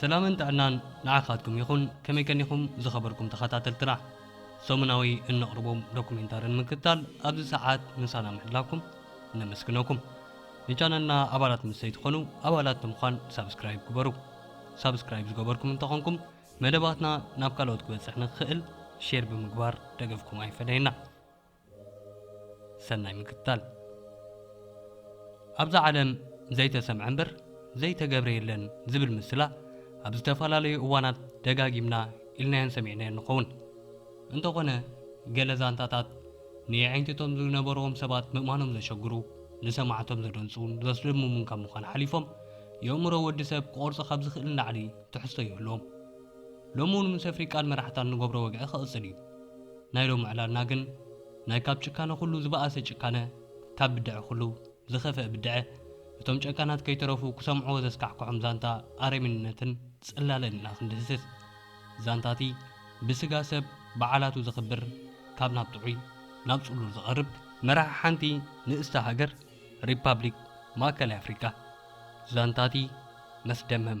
ሰላምን ጥዕናን ንዓኻትኩም ይኹን ከመይ ቀኒኹም ዝኸበርኩም ተኸታተልትና ሰሙናዊ እነቕርቦም ዶኩሜንታሪ ንምክትታል ኣብዚ ሰዓት ምሳና ምሕላፍኩም ነመስግነኩም ንቻነልና ኣባላት ምስ ዘይትኾኑ ኣባላት ብምዃን ሳብስክራይብ ግበሩ ሳብስክራይብ ዝገበርኩም እንተኾንኩም መደባትና ናብ ካልኦት ክበፅሕ ንክኽእል ሼር ብምግባር ደገፍኩም ኣይፈለየና ሰናይ ምክትታል። ኣብዛ ዓለም ዘይተሰምዐ እምበር ዘይተገብረ የለን ዝብል ምስላ ኣብ ዝተፈላለዩ እዋናት ደጋጊምና ኢልናዮን ሰሚዕናዮን ንኸውን። እንተኾነ ገለ ዛንታታት ንየዒንቲ እቶም ዝነበርዎም ሰባት ምእማኖም ዘሸግሩ፣ ንሰማዕቶም ዘደንጹን ዘስደምሙን ካብ ምዃን ሓሊፎም የእምሮ ወዲ ሰብ ክቖርጾ ካብ ዝኽእል ንላዕሊ ትሕዝቶ ይህልዎም። ሎሚ እውን ምስ ኣፍሪቃን መራሕታን ንገብሮ ወግዒ ክቕጽል እዩ። ናይ ሎሚ ዕላልና ግን ናይ ካብ ጭካነ ኩሉ ዝበኣሰ ጭካነ ካብ ብደዐ ኩሉ ዝኸፈእ ብደዐ እቶም ጨካናት ከይተረፉ ክሰምዕዎ ዘስካሕክሖም ዛንታ ኣረሚንነትን ጽላለን ኢና ክንድህስስ ዛንታቲ ብስጋ ሰብ በዓላቱ ዘኽብር ካብ ናብ ጥዑይ ናብ ጽሉል ዝቐርብ መራሒ ሓንቲ ንእስቲ ሃገር ሪፓብሊክ ማእከላይ ኣፍሪቃ ዛንታቲ መስደመም።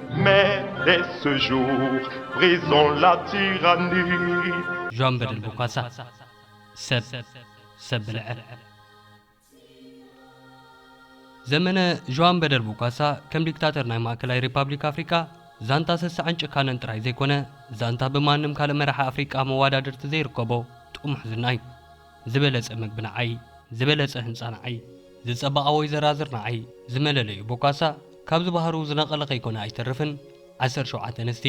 Mais dès ce jour, brisons la tyrannie. ዣን በደል ቦካሳ ሰብ ሰብ ብልዐ ዘመነ ዣን በደል ቦካሳ ከም ዲክታተር ናይ ማእከላይ ሪፓብሊክ ኣፍሪቃ ዛንታ ስስዐን ጭካነን ጥራይ ዘይኮነ ዛንታ ብማንም ካልእ መራሒ ኣፍሪቃ መዋዳድርቲ ዘይርከቦ ጥሙሕ ዝና እዩ። ዝበለጸ ምግቢ ንዓይ፣ ዝበለጸ ህንጻ ንዓይ፣ ዝጸበቓ ወይ ዘራዝር ንዓይ፣ ዝመለለዩ ቦካሳ፣ ካብዚ ባህሩ ዝነቐለ ከይኮነ ኣይተርፍን። ዓሰርተ ሸውዓተ ኣንስቲ፣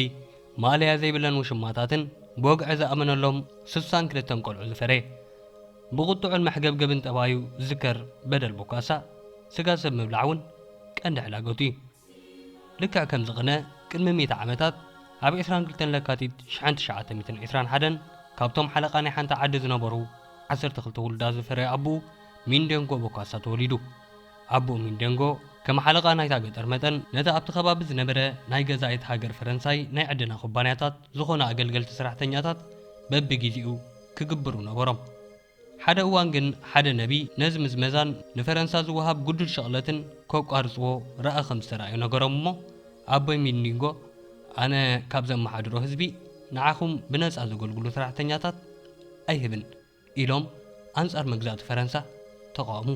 ማእለያ ዘይብለን ውሽማታትን፣ ብወግዒ ዝኣመነሎም ስሳን ክልተን ቆልዑ ዝፈረየ። ብቑጥዑን መሕገብገብን ጠባዩ ዝዝከር በደል ቦካሳ፣ ስጋ ሰብ ምብላዕ እውን ቀንዲ ሕላገቱ እዩ። ልክዕ ከምዚ ቅነ ቅድሚ ሚእቲ ዓመታት ኣብ ዕስራን ክልተን ለካቲት ሽሕን ትሽዓተ ሚእትን ዕስራን ሓደን ካብቶም ሓለቓ ናይ ሓንቲ ዓዲ ዝነበሩ ዓሰርተ ክልተ ውሉዳት ዝፈረየ ኣቡኡ ሚንደንጎ ቦካሳ ተወሊዱ። ኣቡኡ ሚንደንጎ ከም ሓለቓ ናይታ ገጠር መጠን ነቲ ኣብቲ ከባቢ ዝነበረ ናይ ገዛኢት ሃገር ፈረንሳይ ናይ ዕደና ኩባንያታት ዝኾኑ ኣገልገልቲ ሰራሕተኛታት በብጊዚኡ ክግብሩ ነበሮም። ሓደ እዋን ግን ሓደ ነቢይ ነዚ ምዝመዛን ንፈረንሳ ዝወሃብ ግዱድ ሽቕለትን ከቋርጽዎ ራኢ ከም ዝተራእዮ ነገሮም እሞ ኣቦይ ሚድኒንጎ ኣነ ካብ ዘመሓድሮ ህዝቢ ንዓኹም ብነጻ ዘገልግሉ ሰራሕተኛታት ኣይህብን ኢሎም ኣንጻር መግዛእቲ ፈረንሳ ተቓወሙ።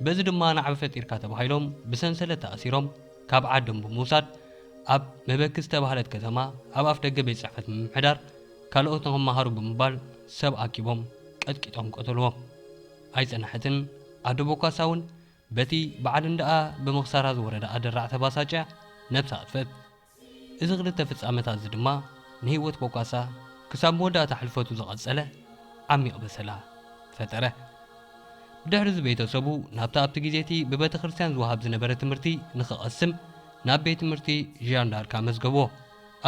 በዚ ድማ ናዕቢ ፈጢርካ ተባሂሎም ብሰንሰለት ተኣሲሮም ካብ ዓዶም ብምውሳድ ኣብ መበኪ ዝተባህለት ከተማ ኣብ ኣፍደገ ቤት ጽሕፈት ምምሕዳር ካልኦት ንክመሃሩ ብምባል ሰብ ኣኪቦም ቀጥቂጦም ቀተልዎ። ኣይጸንሐትን ኣደቦ ካሳውን በቲ በዓል እንዳኣ ብምክሳራ ዝወረዳ ኣደራዕ ተባሳጭያ ነብሳ ኣጥፈት። እዚ ክልተ ፍጻመታት እዚ ድማ ንህይወት ቦካሳ ክሳብ መወዳእታ ሕልፈቱ ዝቐጸለ ዓሚቕ በሰላ ፈጠረ። ብድሕሪ እዚ ቤተሰቡ ናብታ ኣብቲ ግዜቲ ብበተክርስትያን ዝወሃብ ዝነበረ ትምህርቲ ንክቐስም ናብ ቤት ትምህርቲ ዣን ዳርክ ኣመዝገቡዎ።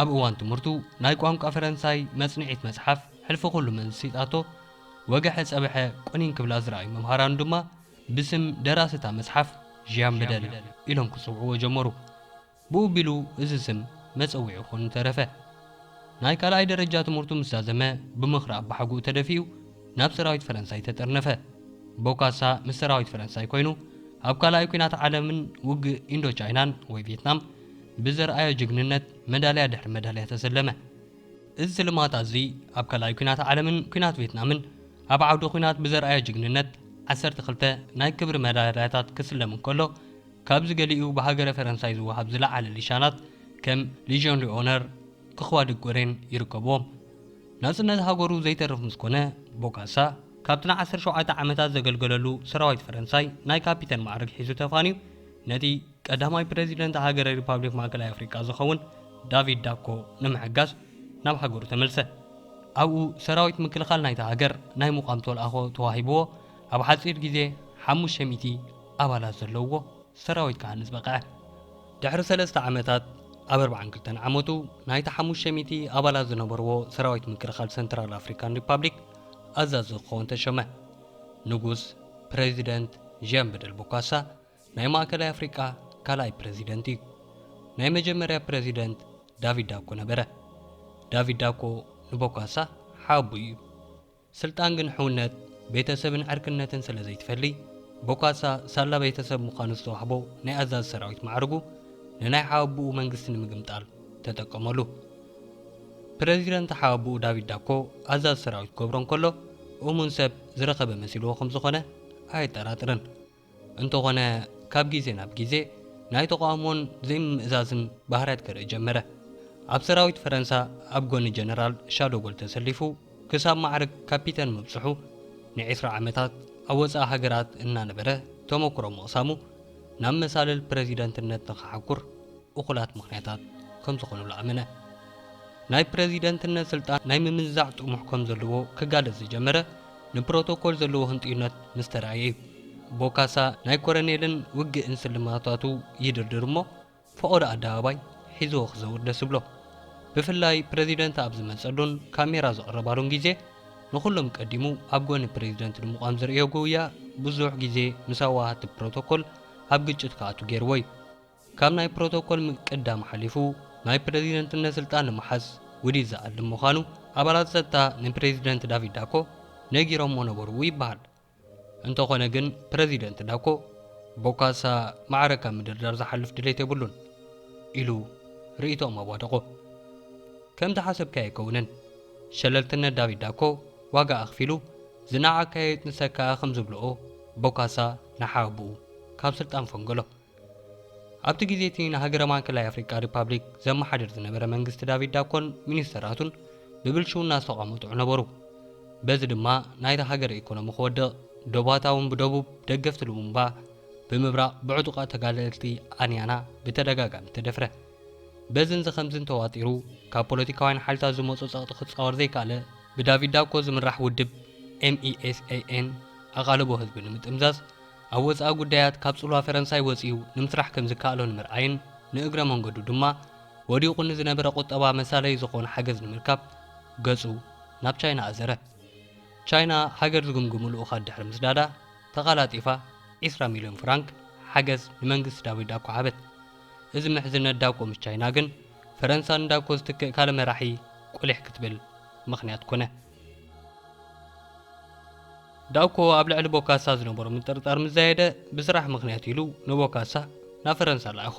ኣብ እዋን ትምህርቱ ናይ ቋንቋ ፈረንሳይ መጽንዒት መጽሓፍ ሕልፊ ኩሉ መንስሲጣቶ ወገሐ ጸበሐ ቁኒን ክብላ ዝረኣዩ መምሃራኑ ድማ ብስም ደራሲ እታ መጽሓፍ ዢያን በደል ኢሎም ክጽውዕዎ ጀመሩ። ብኡ ኣቢሉ እዚ ስም መጸውዒኡ ኮይኑ ተረፈ። ናይ ካልኣይ ደረጃ ትምህርቱ ምስ ዛዘመ ብምኽሪ ኣባሓጉኡ ተደፊኡ ናብ ሰራዊት ፈረንሳይ ተጠርነፈ። ቦካሳ ምስ ሰራዊት ፈረንሳይ ኮይኑ ኣብ ካልኣይ ኲናት ዓለምን ውግእ ኢንዶ ቻይናን ወይ ቬትናም ብዘርኣዮ ጅግንነት መዳልያ ድሕሪ መዳልያ ተሰለመ። እዚ ስልማት ኣዚ ኣብ ካልኣይ ኩናት ዓለምን ኩናት ቬትናምን ኣብ ዓውደ ኩናት ብዘርኣዮ ጅግንነት ዓሰርተ ክልተ ናይ ክብሪ መዳልያታት ክስለም እንከሎ ካብዚ ገሊኡ ብሃገረ ፈረንሳይ ዝወሃብ ዝለዓለ ሊሻናት ከም ሊዥዮን ልኦነር ኽዋ ደ ጎሬን ይርከብዎም። ናጽነት ሃገሩ ዘይተርፍ ምስ ኮነ ቦካሳ ካብቲ ንዓሰርተ ሸውዓተ ዓመታት ዘገልገለሉ ሰራዊት ፈረንሳይ ናይ ካፒተን መዓርግ ሒዙ ተፋንዩ ነቲ ቀዳማይ ፕረዚደንት ሃገረ ሪፓብሊክ ማእከላይ ኣፍሪቃ ዝኸውን ዳቪድ ዳኮ ንምሕጋዝ ናብ ሃገሩ ተመልሰ። ኣብኡ ሰራዊት ምክልኻል ናይታ ሃገር ናይ ምቛም ተልኣኾ ተዋሂብዎ ኣብ ሓጺር ግዜ ሓሙሽተ ሚእቲ ኣባላት ዘለዉዎ ሰራዊት ክሃንጽ በቕዐ። ድሕሪ ሰለስተ ዓመታት ኣብ ኣርብዓን ክልተን ዓመቱ ናይቲ ሓሙሽተ ሚእቲ ኣባላት ዝነበርዎ ሰራዊት ምክልኻል ሰንትራል ኣፍሪካን ሪፓብሊክ ኣዛዚ ክኸውን ተሸመ። ንጉስ፣ ፕረዚደንት፣ ዢያን በደል ቦካሳ፣ ናይ ማእከላይ ኣፍሪቃ ካልኣይ ፕረዚደንት እዩ። ናይ መጀመርያ ፕረዚደንት ዳቪድ ዳኮ ነበረ። ዳቪድ ዳኮ ንቦካሳ ሓኣቦይ እዩ። ስልጣን ግን ሕውነት፣ ቤተሰብን ዕርክነትን ስለ ዘይትፈሊ፣ ቦካሳ ሳላ ቤተሰብ ምዃኑ ዝተዋህቦ ናይ ኣዛዚ ሰራዊት ማዕርጉ ንናይ ሓኣቦኡ መንግስቲ ንምግምጣል ተጠቀመሉ። ፕረዚደንት ሓኣቦኡ ዳቪድ ዳኮ ኣዛዚ ሰራዊት ክገብሮ እንከሎ እሙን ሰብ ዝረኸበ መሲልዎ ከም ዝኾነ ኣየጠራጥርን። እንተኾነ ካብ ግዜ ናብ ግዜ ናይ ተቓውሞን ዘይምምእዛዝን ባህርያት ከርኢ ጀመረ። ኣብ ሰራዊት ፈረንሳ ኣብ ጎኒ ጀነራል ሻዶጎል ተሰሊፉ ክሳብ ማዕርግ ካፒተን ምብጽሑ፣ ንዒስራ ዓመታት ኣብ ወጻኢ ሃገራት እናነበረ ተመኩሮ ምቕሳሙ ናብ መሳልል ፕረዚደንትነት ንኽሓኩር እኹላት ምኽንያታት ከምዝኾኑሉ ኣመነ። ናይ ፕረዚደንትነት ስልጣን ናይ ምምንዛዕ ጥሙሕ ከምዘለዎ ክጋለጽ ዝጀመረ፣ ንፕሮቶኮል ዘለዎ ህንጥዩነት ምስ ተራእየ እዩ። ቦካሳ ናይ ኮረኔልን ውግእን ስልማታቱ ይድርድር እሞ ፈቖዶ ኣደባባይ ሒዝዎ ክዘውር ደስ ይብሎ። ብፍላይ ፕረዚደንት ኣብ ዝመጸሉን ካሜራ ዝቕረባሉን ግዜ ንኹሎም ቀዲሙ ኣብ ጎኒ ፕረዚደንት ንምቛም ዘርእዮ ጉውያ ብዙሕ ግዜ ምስ ኣዋሃህቲ ፕሮቶኮል ኣብ ግጭት ክኣቱ ገይርዎ እዩ። ካብ ናይ ፕሮቶኮል ምቅዳም ሓሊፉ ናይ ፕረዚደንትነት ስልጣን ንምሓዝ ውዲት ዝኣልም ምዃኑ ኣባላት ጸጥታ ንፕረዚደንት ዳቪድ ዳኮ ነጊሮሞ ነበሩ ይበሃል። እንተኾነ ግን ፕረዚደንት ዳኮ ቦካሳ ማዕረ ካብ ምድርዳር ዝሓልፍ ድሌት የብሉን ኢሉ ርእይቶኦም ኣዋደቖ። ከምቲ ሓሰብካዮ ኣይከውንን። ሸለልትነት ዳቪድ ዳኮ ዋጋ ኣኽፊሉ፣ ዝነዓቕካዮ ይጥንሰካ'ያ ከም ዝብልኦ ቦካሳ ንሓወብኡ ካብ ስልጣን ፈንገሎ። ኣብቲ ግዜ እቲ ንሃገረ ማእከላይ ኣፍሪቃ ሪፓብሊክ ዘመሓድር ዝነበረ መንግስቲ ዳቪድ ዳኮን ሚኒስተራቱን ብብልሽውና ዝተቋመጡ ነበሩ። በዚ ድማ ናይታ ሃገር ኤኮኖሚ ክወድቕ፣ ደቡባታ እውን ብደቡብ ደገፍቲ ሉሙምባ፣ ብምብራቕ ብዕጡቓት ተጋደልቲ ኣንያና ብተደጋጋሚ ተደፍረ። በዝን ዝኸምዝን ተዋጢሩ ካብ ፖለቲካውያን ሓይልታት ዝመጾ ጸቕጢ ክጻወር ዘይከኣለ፣ ብዳቪድ ዳኮ ዝምራሕ ውድብ፣ MESAN፣ ኣቓልቦ ህዝቢ ንምጥምዛዝ ኣብ ወጻኢ ጉዳያት ካብ ጽልዋ ፈረንሳይ ወጺኡ ንምስራሕ ከም ዝከኣሎ ንምርኣይን ንእግረ መንገዱ ድማ ወዲቑ ንዝነበረ ቁጠባ መሳለዪ ዝኾኖ ሓገዝ ንምርካብ ገጹ ናብ ቻይና ኣዘረ። ቻይና ሃገር ዝግምግሙ ልኡኻት ድሕሪ ምስዳዳ ተቐላጢፋ ዕስራ ሚልዮን ፍራንክ ሓገዝ ንመንግስቲ ዳዊት ዳኮ ሃበት። እዚ ምሕዝነት ዳኮ ምስ ቻይና ግን ፈረንሳ ንዳኮ ዝትክእ ካልእ መራሒ ቁሊሕ ክትብል ምኽንያት ኮነ። ዳውኮ ኣብ ልዕሊ ቦካሳ ዝነበሮ ምጥርጣር ምስ ዛየደ ብስራሕ ምኽንያት ኢሉ ንቦካሳ ናብ ፈረንሳ ለኣኾ።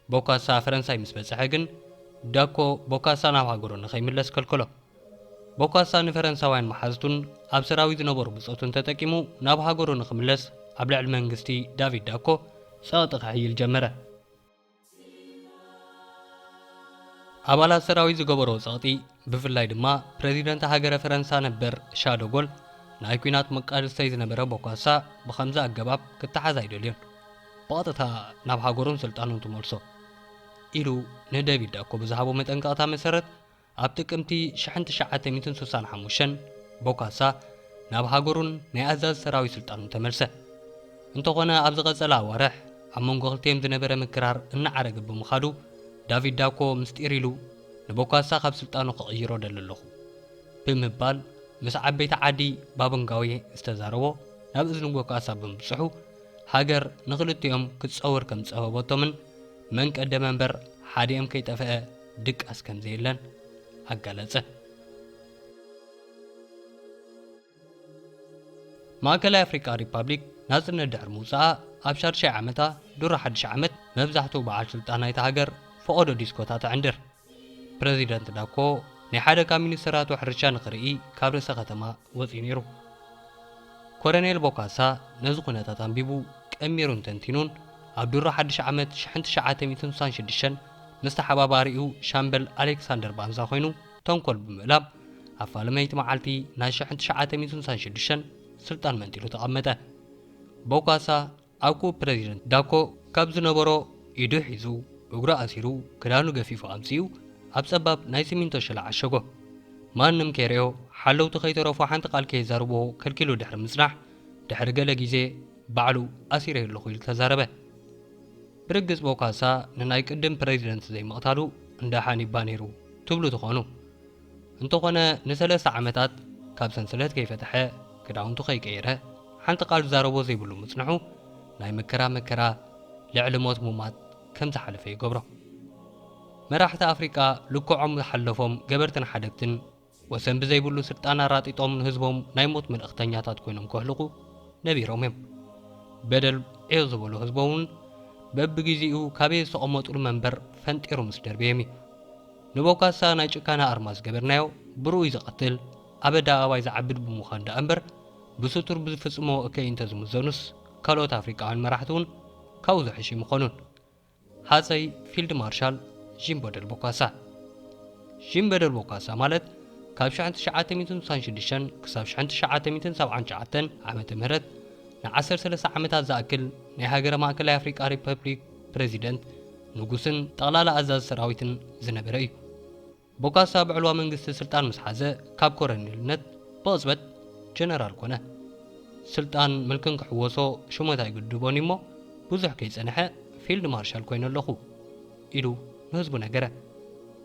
ቦካሳ ፈረንሳይ ምስ በጽሐ ግን ዳኮ ቦካሳ ናብ ሃገሩ ንኸይምለስ ከልከሎ። ቦካሳ ንፈረንሳውያን መሓዝቱን ኣብ ሰራዊት ዝነበሩ ብጾቱን ተጠቂሙ ናብ ሃገሩ ንኽምለስ ኣብ ልዕሊ መንግስቲ ዳቪድ ዳኮ ጸቕጢ ከሕይል ጀመረ። ኣባላት ሰራዊት ዝገበሮ ጸቕጢ ብፍላይ ድማ ፕረዚደንት ሃገረ ፈረንሳ ነበር ሻዶጎል ናይ ኲናት መቃልስተይ ዝነበረ ቦኳሳ ብኸምዚ ኣገባብ ክተሓዝ ኣይደልዮን ብቐጥታ ናብ ሃገሩን ስልጣኑን ትመልሶ ኢሉ ንደቪድ ዳኮ ብዝሃቦ መጠንቀቕታ መሰረት ኣብ ጥቅምቲ ሽሕን ትሽዓተ ሚእትን ስሳን ሓሙሽተን ቦካሳ ናብ ሃገሩን ናይ ኣዛዚ ሰራዊት ስልጣኑን ተመልሰ። እንተኾነ ኣብ ዝቐጸላ ኣዋርሕ ኣብ መንጎ ክልቲኤም ዝነበረ ምክራር እናዓረገ ብምኻዱ ዳቪድ ዳኮ ምስጢር ኢሉ ንቦካሳ ካብ ስልጣኑ ክቕይሮ እደሊ ኣለኹ ብምባል ምስ ዓበይቲ ዓዲ ባቦንጋዌ ዝተዛረቦ ናብ እዝኒ ቦካሳ ብምብጽሑ ሃገር ንኽልቲኦም ክትጸውር ከምዝጸበበቶምን መን ቀደመ እምበር ሓዲኦም ከይጠፈኣ ድቃስ ከም ዘየለን ኣጋለጸ። ማእከላይ ኣፍሪቃ ሪፓብሊክ ናጽነት ድሕሪ ምውጽኣ ኣብ ሻድሻይ ዓመታ ድሮ ሓድሽ ዓመት መብዛሕትኡ በዓል ስልጣን ናይታ ሃገር ፈቖዶ ዲስኮታት ኣዕንድር። ፕረዚደንት ዳኮ ናይ ሓደ ካብ ሚኒስተራቱ ሕርሻ ንኽርኢ ካብ ርእሰ ከተማ ወጺኡ ነይሩ። ኮረኔል ቦካሳ ነዚ ኩነታት ኣንቢቡ ቀሚሩን ተንቲኑን ኣብ ድሮ ሓድሽ ዓመት ሽሕን ትሽዓተ ሚእትን ስሳን ሽዱሽተን ምስ ተሓባባሪኡ ሻምበል ኣሌክሳንደር ባንዛ ኮይኑ ተንኮል ብምእላም ኣብ ፋለመይቲ መዓልቲ ናይ ሽሕን ትሽዓተ ሚእትን ስሳን ሽዱሽተን ስልጣን መንጢሉ ተቐመጠ። ቦካሳ ኣብኩኡ ፕረዚደንት ዳኮ ካብ ዝነበሮ ኢዱ ሒዙ እግሩ ኣሲሩ ክዳኑ ገፊፉ ኣምጺኡ ኣብ ጸባብ ናይ ሲሚንቶ ሸላ ዓሸጎ። ማንም ከይርእዮ ሓለውቲ ከይተረፉ ሓንቲ ቃል ከየዛርብዎ ከልኪሉ ድሕሪ ምጽናሕ ድሕሪ ገለ ግዜ ባዕሉ ኣሲረዮ ኣለኹ ኢሉ ተዛረበ። ብርግጽ ቦካሳ ንናይ ቅድም ፕረዚደንት ዘይምቕታሉ እንዳ ሓኒባ ነይሩ ትብሉ ትኾኑ። እንተኾነ ንሰለስተ ዓመታት ካብ ሰንሰለት ከይፈተሐ ክዳውንቱ ከይቀየረ ሓንቲ ቃል ዝዛረቦ ዘይብሉ ምጽንሑ ናይ መከራ መከራ ልዕሊ ሞት ሙማት ከም ዝሓለፈ ይገብሮ። መራሕቲ ኣፍሪቃ ልክዖም ዝሓለፎም ገበርትን ሓደግትን ወሰን ብዘይብሉ ስልጣን ኣራጢጦም ንህዝቦም ናይ ሞት መልእኽተኛታት ኮይኖም ከህልቑ ነቢሮም እዮም። በደል ዕዮ ዝበሎ ህዝቦም እውን በብጊዚኡ ካበየ ዝተቐመጡሉ መንበር ፈንጢሩ ምስ ደርበየም እዩ። ንቦካሳ ናይ ጭካነ ኣርማ ዝገበርናዮ ብርኡይ ዝቐትል ኣበዳ ኣባይ ዝዓብድ ብምዃን ደኣ እምበር ብስቱር ብዝፍጽሞ እከይ እንተ ዝምዘኑስ ካልኦት ኣፍሪቃውያን መራሕቲ እውን ካብኡ ዝሕሹ ኣይምኾኑን። ሃጸይ ፊልድ ማርሻል ዢን በደል ቦካሳ። ዢን በደል ቦካሳ ማለት ካብ ሽሕን ትሽዓተ ሚእትን ስሳን ሽዱሽተን ክሳብ ሽሕን ትሽዓተ ሚእትን ሰብዓን ትሽዓተን ዓመተ ምህረት ንዓሰርተ ሰለስተ ዓመታት ዝኣክል ናይ ሃገረ ማእከላይ ኣፍሪቃ ሪፐብሊክ ፕረዚደንት፣ ንጉስን ጠቕላላ ኣዛዚ ሰራዊትን ዝነበረ እዩ። ቦካሳ ብዕልዋ መንግስቲ ስልጣን ምስ ሓዘ ካብ ኮረኔልነት ብቕጽበት ጀነራል ኮነ። ስልጣን ምልክን ክሕወሶ ሹመት ኣይግድቦን እዩ'ሞ ብዙሕ ከይጸንሐ ፊልድ ማርሻል ኮይነ ኣለኹ ኢሉ ንህዝቡ ነገረ።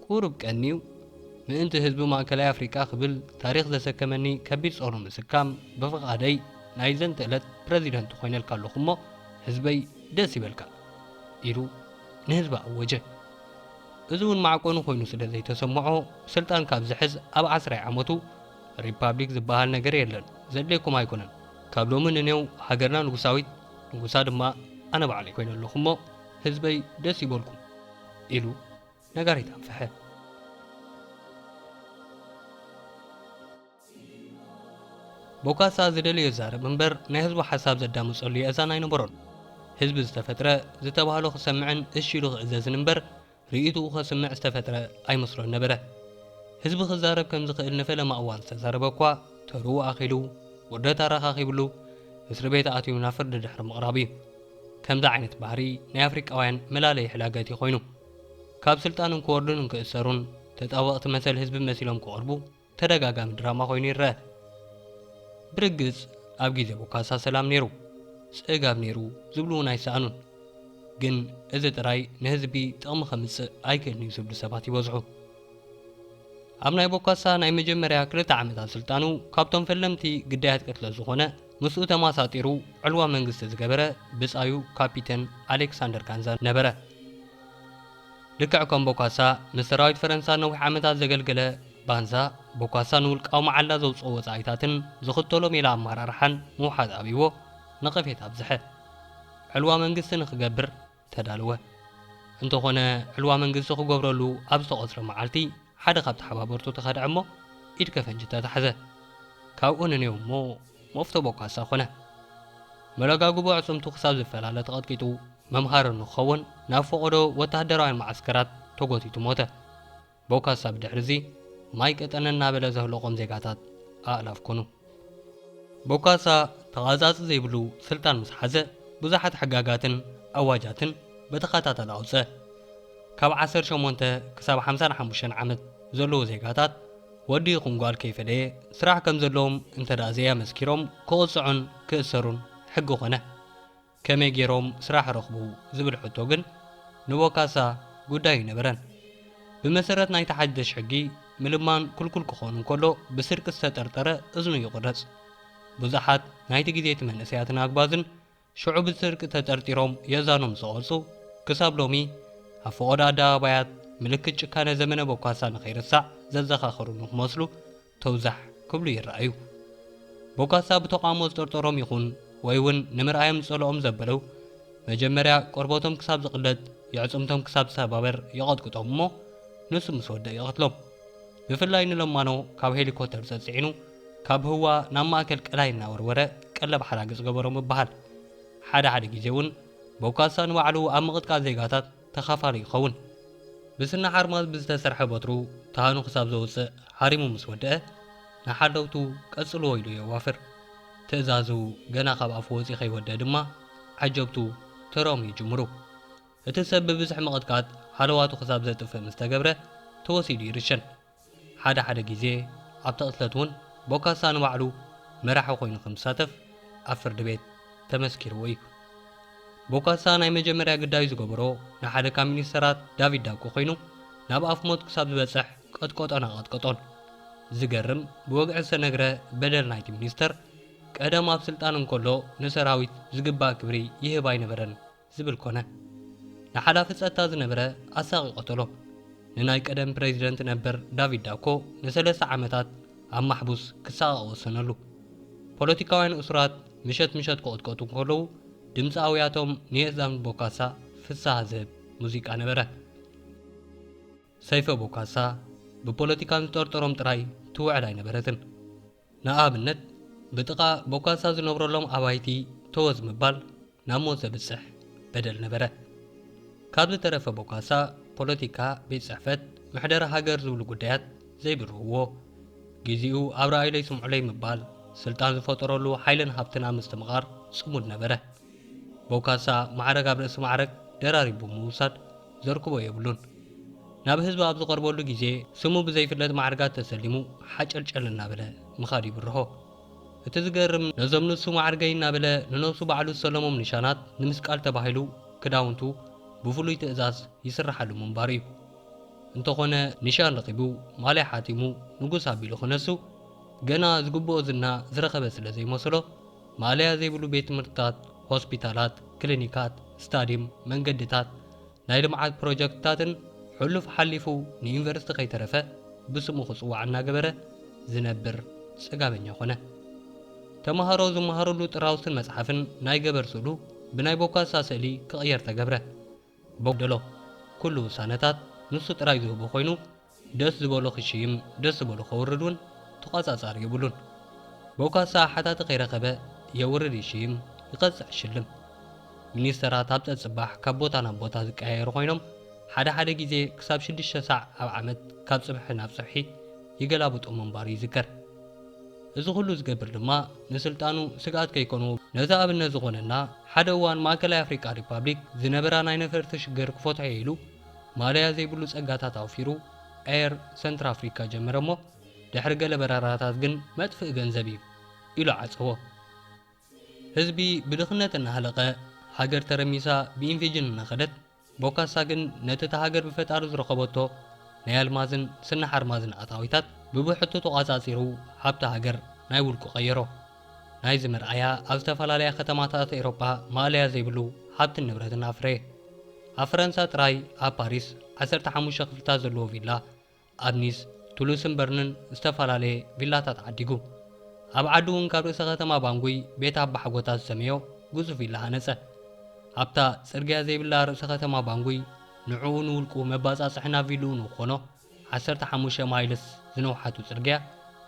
ቁሩብ ቀንዩ ምእንቲ ህዝቢ ማእከላይ ኣፍሪቃ ክብል ታሪኽ ዘሰከመኒ ከቢድ ጾር ንምስካም ብፍቓደይ ናይ ዘንትእለት ፕረዚደንት ኮይነልካ ኣለኹ'ሞ፣ ህዝበይ ደስ ይበልካ ኢሉ ንህዝቢ ኣወጀ። እዚ እውን ማዕቆኒ ኮይኑ ስለ ዘይተሰምዖ ስልጣን ካብ ዝሕዝ ኣብ ዓስራይ ዓመቱ ሪፓብሊክ ዝበሃል ነገር የለን ዘድልየኩም ኣይኮነን ካብ ሎሚ ንኔው ሃገርና ንጉሳዊት ንጉሳ ድማ ኣነ ባዕለይ ኮይነ ኣለኹ እሞ ህዝበይ ደስ ይበልኩም ኢሉ ነጋሪት ኣንፍሐ። ቦካሳ ዝደለዮ ይዛረብ እምበር ናይ ህዝቡ ሓሳብ ዘዳምጸሉ የእዛን ኣይነበሮን። ህዝቢ ዝተፈጥረ ዝተባህሎ ክሰምዕን እሺ ኢሉ ክእዘዝን እምበር ርእይትኡ ከስምዕ ዝተፈጥረ ኣይመስሎን ነበረ። ህዝቢ ክዛረብ ከም ዝኽእል ንፈለማ እዋን ዝተዛረበ እኳ ተርኡ ኣኺሉ ውርደት ኣረኻኺብሉ እስሪ ቤት ኣትዩ ናብ ፍርዲ ድሕሪ ምቕራቡ እዩ። ከምዚ ዓይነት ባህሪ ናይ ኣፍሪቃውያን መላለዪ ሕላገት እዩ ኮይኑ። ካብ ስልጣን እንክወርዱን እንክእሰሩን ተጣበቕቲ መሰል ህዝቢ መሲሎም ክቐርቡ፣ ተደጋጋሚ ድራማ ኮይኑ ይረኣ። ብርግጽ ኣብ ግዜ ቦካሳ ሰላም ኔሩ ጽጋብ ኔሩ ዝብሉ ውን ኣይሰኣኑን ግን እዚ ጥራይ ንህዝቢ ጥቕሚ ከምጽእ ኣይክእልን ዩ ዝብሉ ሰባት ይበዝሑ። ኣብ ናይ ቦካሳ ናይ መጀመርያ ክልተ ዓመታት ስልጣኑ ካብቶም ፈለምቲ ግዳያት ቅትለት ዝኾነ ምስኡ ተማሳጢሩ ዕልዋ መንግስቲ ዝገበረ ብጻዩ ካፒተን ኣሌክሳንደር ካንዛ ነበረ። ልክዕ ከም ቦካሳ፣ ንሰራዊት ፈረንሳ ነዊሕ ዓመታት ዘገልገለ ባንሳ፣ ቦካሳ ንውልቃዊ መዓላ ዘውጽኦ ወጻኢታትን ዝኽተሎ ሜላ ኣመራርሓን ምውሓጥ ኣብይዎ ነቐፌታ ኣብዝሐ። ዕልዋ መንግስቲ ንኽገብር ተዳለወ። እንተኾነ ዕልዋ መንግስቲ ክገብረሉ ኣብ ዝተቖጽረ መዓልቲ፣ ሓደ ካብ ተሓባበርቱ ተኸድዐ እሞ ኢድ ከፈንጂ ተታሕዘ። ካብኡ ንኔው እሞ መፍቶ ቦካሳ ኮነ። መለጋግቦ ኣዕጽምቱ ክሳብ ዝፈላለ ተቐጥቂጡ መምሃሪ ንክኸውን ናብ ፈቐዶ ወተሃደራውያን መዓስከራት ተጎቲቱ ሞተ። ቦካሳ ብድሕሪ'ዚ ማይ ቀጠነ እናበለ ዘህለቖም ዜጋታት ኣእላፍ ኮኑ። ቦካሳ ተቛጻጺ ዘይብሉ ስልጣን ምስ ሓዘ፣ ብዙሓት ሕጋጋትን ኣዋጃትን ብተኸታታሊ ኣውጸ። ካብ ዓሰርተ ሸሞንተ ክሳብ ሓምሳን ሓሙሽተን ዓመት ዘለዉ ዜጋታት፣ ወዲ ይኹን ጓል ከይፈለየ፣ ስራሕ ከም ዘለዎም እንተድኣ ዘይኣመስኪሮም ክቕጽዑን ክእሰሩን ሕጊ ኮነ። ከመይ ገይሮም ስራሕ ረኽቡ ዝብል ሕቶ ግን ንቦካሳ ጉዳይ ኣይነበረን። ብመሰረት ናይቲ ሓደሽ ሕጊ፣ ምልማን ክልኩል ክኾን እንከሎ ብስርቂ ዝተጠርጠረ እዝኑ ይቑረጽ። ብዙሓት ናይቲ ግዜ'ቲ መንእሰያትን ኣግባዝን ሽዑ ብስርቂ ተጠርጢሮም የእዛኖም ዝተቖርጹ ክሳብ ሎሚ ኣብ ፈቖዶ ኣደባባያት ምልክት ጭካነ ዘመነ ቦካሳ ንኸይርሳዕ ዘዘኻኸሩኑ ክመስሉ ተውዛሕ ክብሉ ይረኣዩ። ቦጋሳ ብተቓውሞ ዝጠርጠሮም ይኹን ወይ ውን ንምርኣዮም ዝጸልኦም ዘበለው፣ መጀመርያ ቆርበቶም ክሳብ ዝቕለጥ፣ የዕጽምቶም ክሳብ ዝሰባበር ይቐጥቅጦም እሞ ንሱ ምስ ወደእ ይቐትሎም። ብፍላይ ንለማኖ ካብ ሄሊኮተር ጸጽዒኑ ካብ ህዋ ናብ ማእከል ቀላይ እናወርወረ ቀለብ ሓራግጽ ገበሮ ምብሃል። ሓደ ሓደ ግዜ ውን ቦካሳ ንባዕሉ ኣብ ምቕጥቃጥ ዜጋታት፣ ተኻፋሉ ይኸውን። ብስኒ ሓርማዝ ብዝተሰርሐ በትሩ ታህኑ ክሳብ ዘውጽእ ሓሪሙ ምስ ወድአ፣ ንሓለውቱ ቀጽልዎ ኢሉ የዋፍር። ትእዛዙ ገና ካብ ኣፉ ወጺኡ ከይወድአ ድማ ዓጀብቱ ተራኦም ይጅምሩ። እቲ ሰብ ብብዝሒ ምቕጥቃጥ ሃለዋቱ ክሳብ ዘጥፍእ ምስ ተገብረ ተወሲዱ ይርሸን። ሓደ ሓደ ግዜ ኣብታ ቅትለት እውን ቦካሳ ንባዕሉ መራሒ ኮይኑ ከም ዝሳተፍ ኣብ ፍርዲ ቤት ተመስኪርዎ እዩ። ቦካሳ ናይ መጀመርያ ግዳዩ ዝገበሮ ንሓደ ካብ ሚኒስተራት ዳቪድ ዳብኮ ኮይኑ ናብ ኣፍ ሞት ክሳብ ዝበጽሕ ቀጥቀጦን ኣቐጥቀጦን። ዝገርም ብወግዒ ዝተነግረ በደል ናይቲ ሚኒስተር ቀደም ኣብ ስልጣን እንከሎ ንሰራዊት ዝግባእ ክብሪ ይህብ ኣይነበረን። ዝብል ኮነ። ንሓላፊ ጸጥታ ዝነበረ ኣሳቒ ቀተሎ። ንናይ ቀደም ፕረዚደንት ነበር ዳቪድ ዳኮ ንሰለስተ ዓመታት ኣብ ማሕቡስ ክሳቐቕ ወሰነሉ። ፖለቲካውያን እሱራት ምሸት ምሸት ክቕጥቀጡ እንከለዉ ድምጺ ኣውያቶም ንየእዛን ቦካሳ ፍስሃ ዝህብ ሙዚቃ ነበረ። ሰይፈ ቦካሳ ብፖለቲካን ዝጠርጠሮም ጥራይ ትውዕል ኣይነበረትን። ንኣብነት ብጥቓ ቦካሳ ዝነብረሎም ኣባይቲ ተወዝ ምባል ናብ ሞት ዘብጽሕ በደል ነበረ። ካብ ዝተረፈ ቦካሳ ፖለቲካ፣ ቤት ጽሕፈት፣ ምሕደራ ሃገር ዝብሉ ጉዳያት ዘይብርህዎ፣ ግዜኡ ኣብ ርኣዩለይ ስምዑለይ ምባል፣ ስልጣን ዝፈጠረሉ ሓይልን ሃብትን ኣብ ምስትምቓር ጽሙድ ነበረ። ቦካሳ ማዕረግ ኣብ ርእሲ ማዕረግ ደራሪቡ ብምውሳድ፣ ዘርክቦ የብሉን። ናብ ህዝቢ ኣብ ዝቐርበሉ ግዜ ስሙ ብዘይፍለጥ ማዕርጋት ተሰሊሙ ሓጨልጨል እናበለ ምኻድ ይብርሆ። እቲ ዝገርም ነዞም ንሱ ማዕርገይ እናበለ ንነብሱ ባዕሉ ዝሰለሞም ንሻናት ንምስቃል ተባሂሉ ክዳውንቱ ብፍሉይ ትእዛዝ ይስረሓሉ ምንባሩ እዩ። እንተኾነ ንሻን ረኺቡ ማልያ ሓቲሙ ንጉስ ኣቢሉ ክነሱ ገና ዝግብኦ ዝና ዝረኸበ ስለዘይመሰሎ ማእለያ ዘይብሉ ቤት ትምህርትታት፣ ሆስፒታላት፣ ክሊኒካት፣ ስታድዩም፣ መንገድታት፣ ናይ ልምዓት ፕሮጀክትታትን ሕሉፍ ሓሊፉ ንዩኒቨርሲቲ ከይተረፈ ብስሙ ክፅዋዕ እናገበረ ዝነብር ፅጋበኛ ኮነ። ተምሃሮ ዝመሃርሉ ጥራውስን መፅሓፍን ናይ ገበር ስእሉ ብናይ ቦካሳ ስእሊ ክቕየር ተገብረ። በጉደሎ ኩሉ ውሳነታት ንሱ ጥራይ ዝህቦ ኮይኑ ደስ ዝበሎ ክሽይም ደስ ዝበሎ ከውርድ ውን ተቋጻጻሪ የብሉን በውካሰ ኣሓታቲ ከይረከበ የውርድ ይሽይም ይቀጽዕ ይሽልም ሚኒስተራት ኣብ ጸጽባሕ ካብ ቦታ ናብ ቦታ ዝቀያየሩ ኮይኖም ሓደ ሓደ ግዜ ክሳብ ሽዱሽተ ሳዕ ኣብ ዓመት ካብ ጽብሒ ናብ ጽብሒ ይገላብጡ ምንባሩ ይዝከር። እዚ ኩሉ ዝገብር ድማ ንስልጣኑ ስግኣት ከይኮንዎ። ነዚ ኣብነት ዝኾነና ሓደ እዋን ማእከላይ ኣፍሪቃ ሪፓብሊክ ዝነበራ ናይ ነፈርቲ ሽግር ክፈትሖ'የ ኢሉ ማለያ ዘይብሉ ጸጋታት ኣውፊሩ ኤር ሰንትራፍሪካ ጀመረ'ሞ ድሕሪ ገለ በረራታት ግን መጥፍኢ ገንዘብ'ዩ ኢሉ ዓጸዎ። ህዝቢ ብድኽነት እናሃለቐ፣ ሃገር ተረሚሳ ብኢንፌጅን እናኸደት፣ ቦካሳ ግን ነቲ እታ ሃገር ብፈጣሪ ዝረኸበቶ ናይ ኣልማዝን ስኒ ሓርማዝን ኣታዊታት ብብሕቱ ተቋጻጺሩ ሃብቲ ሃገር ናይ ውልቁ ቀየሮ። ናይዚ መርኣያ ኣብ ዝተፈላለያ ከተማታት ኤሮጳ ማእለያ ዘይብሉ ሃብትን ንብረትን ኣፍረየ። ኣብ ፈረንሳ ጥራይ ኣብ ፓሪስ ዓሰርተ ሓሙሽተ ክፍልታት ዘለዎ ቪላ ኣብ ኒስ፣ ቱሉስን በርንን ዝተፈላለየ ቪላታት ዓዲጉ። ኣብ ዓዱ እውን ካብ ርእሰ ከተማ ባንጉይ ቤት ኣባሓጎታት ዝሰመዮ ግዙፍ ቪላ ሃነጸ። ኣብታ ጽርግያ ዘይብላ ርእሰ ከተማ ባንጉይ ንዕኡ ንውልቁ መባጻጽሒ ናብ ቪልኡ ንክኾኖ ዓሰርተ ሓሙሽተ ማይልስ ዝነውሓቱ ጽርግያ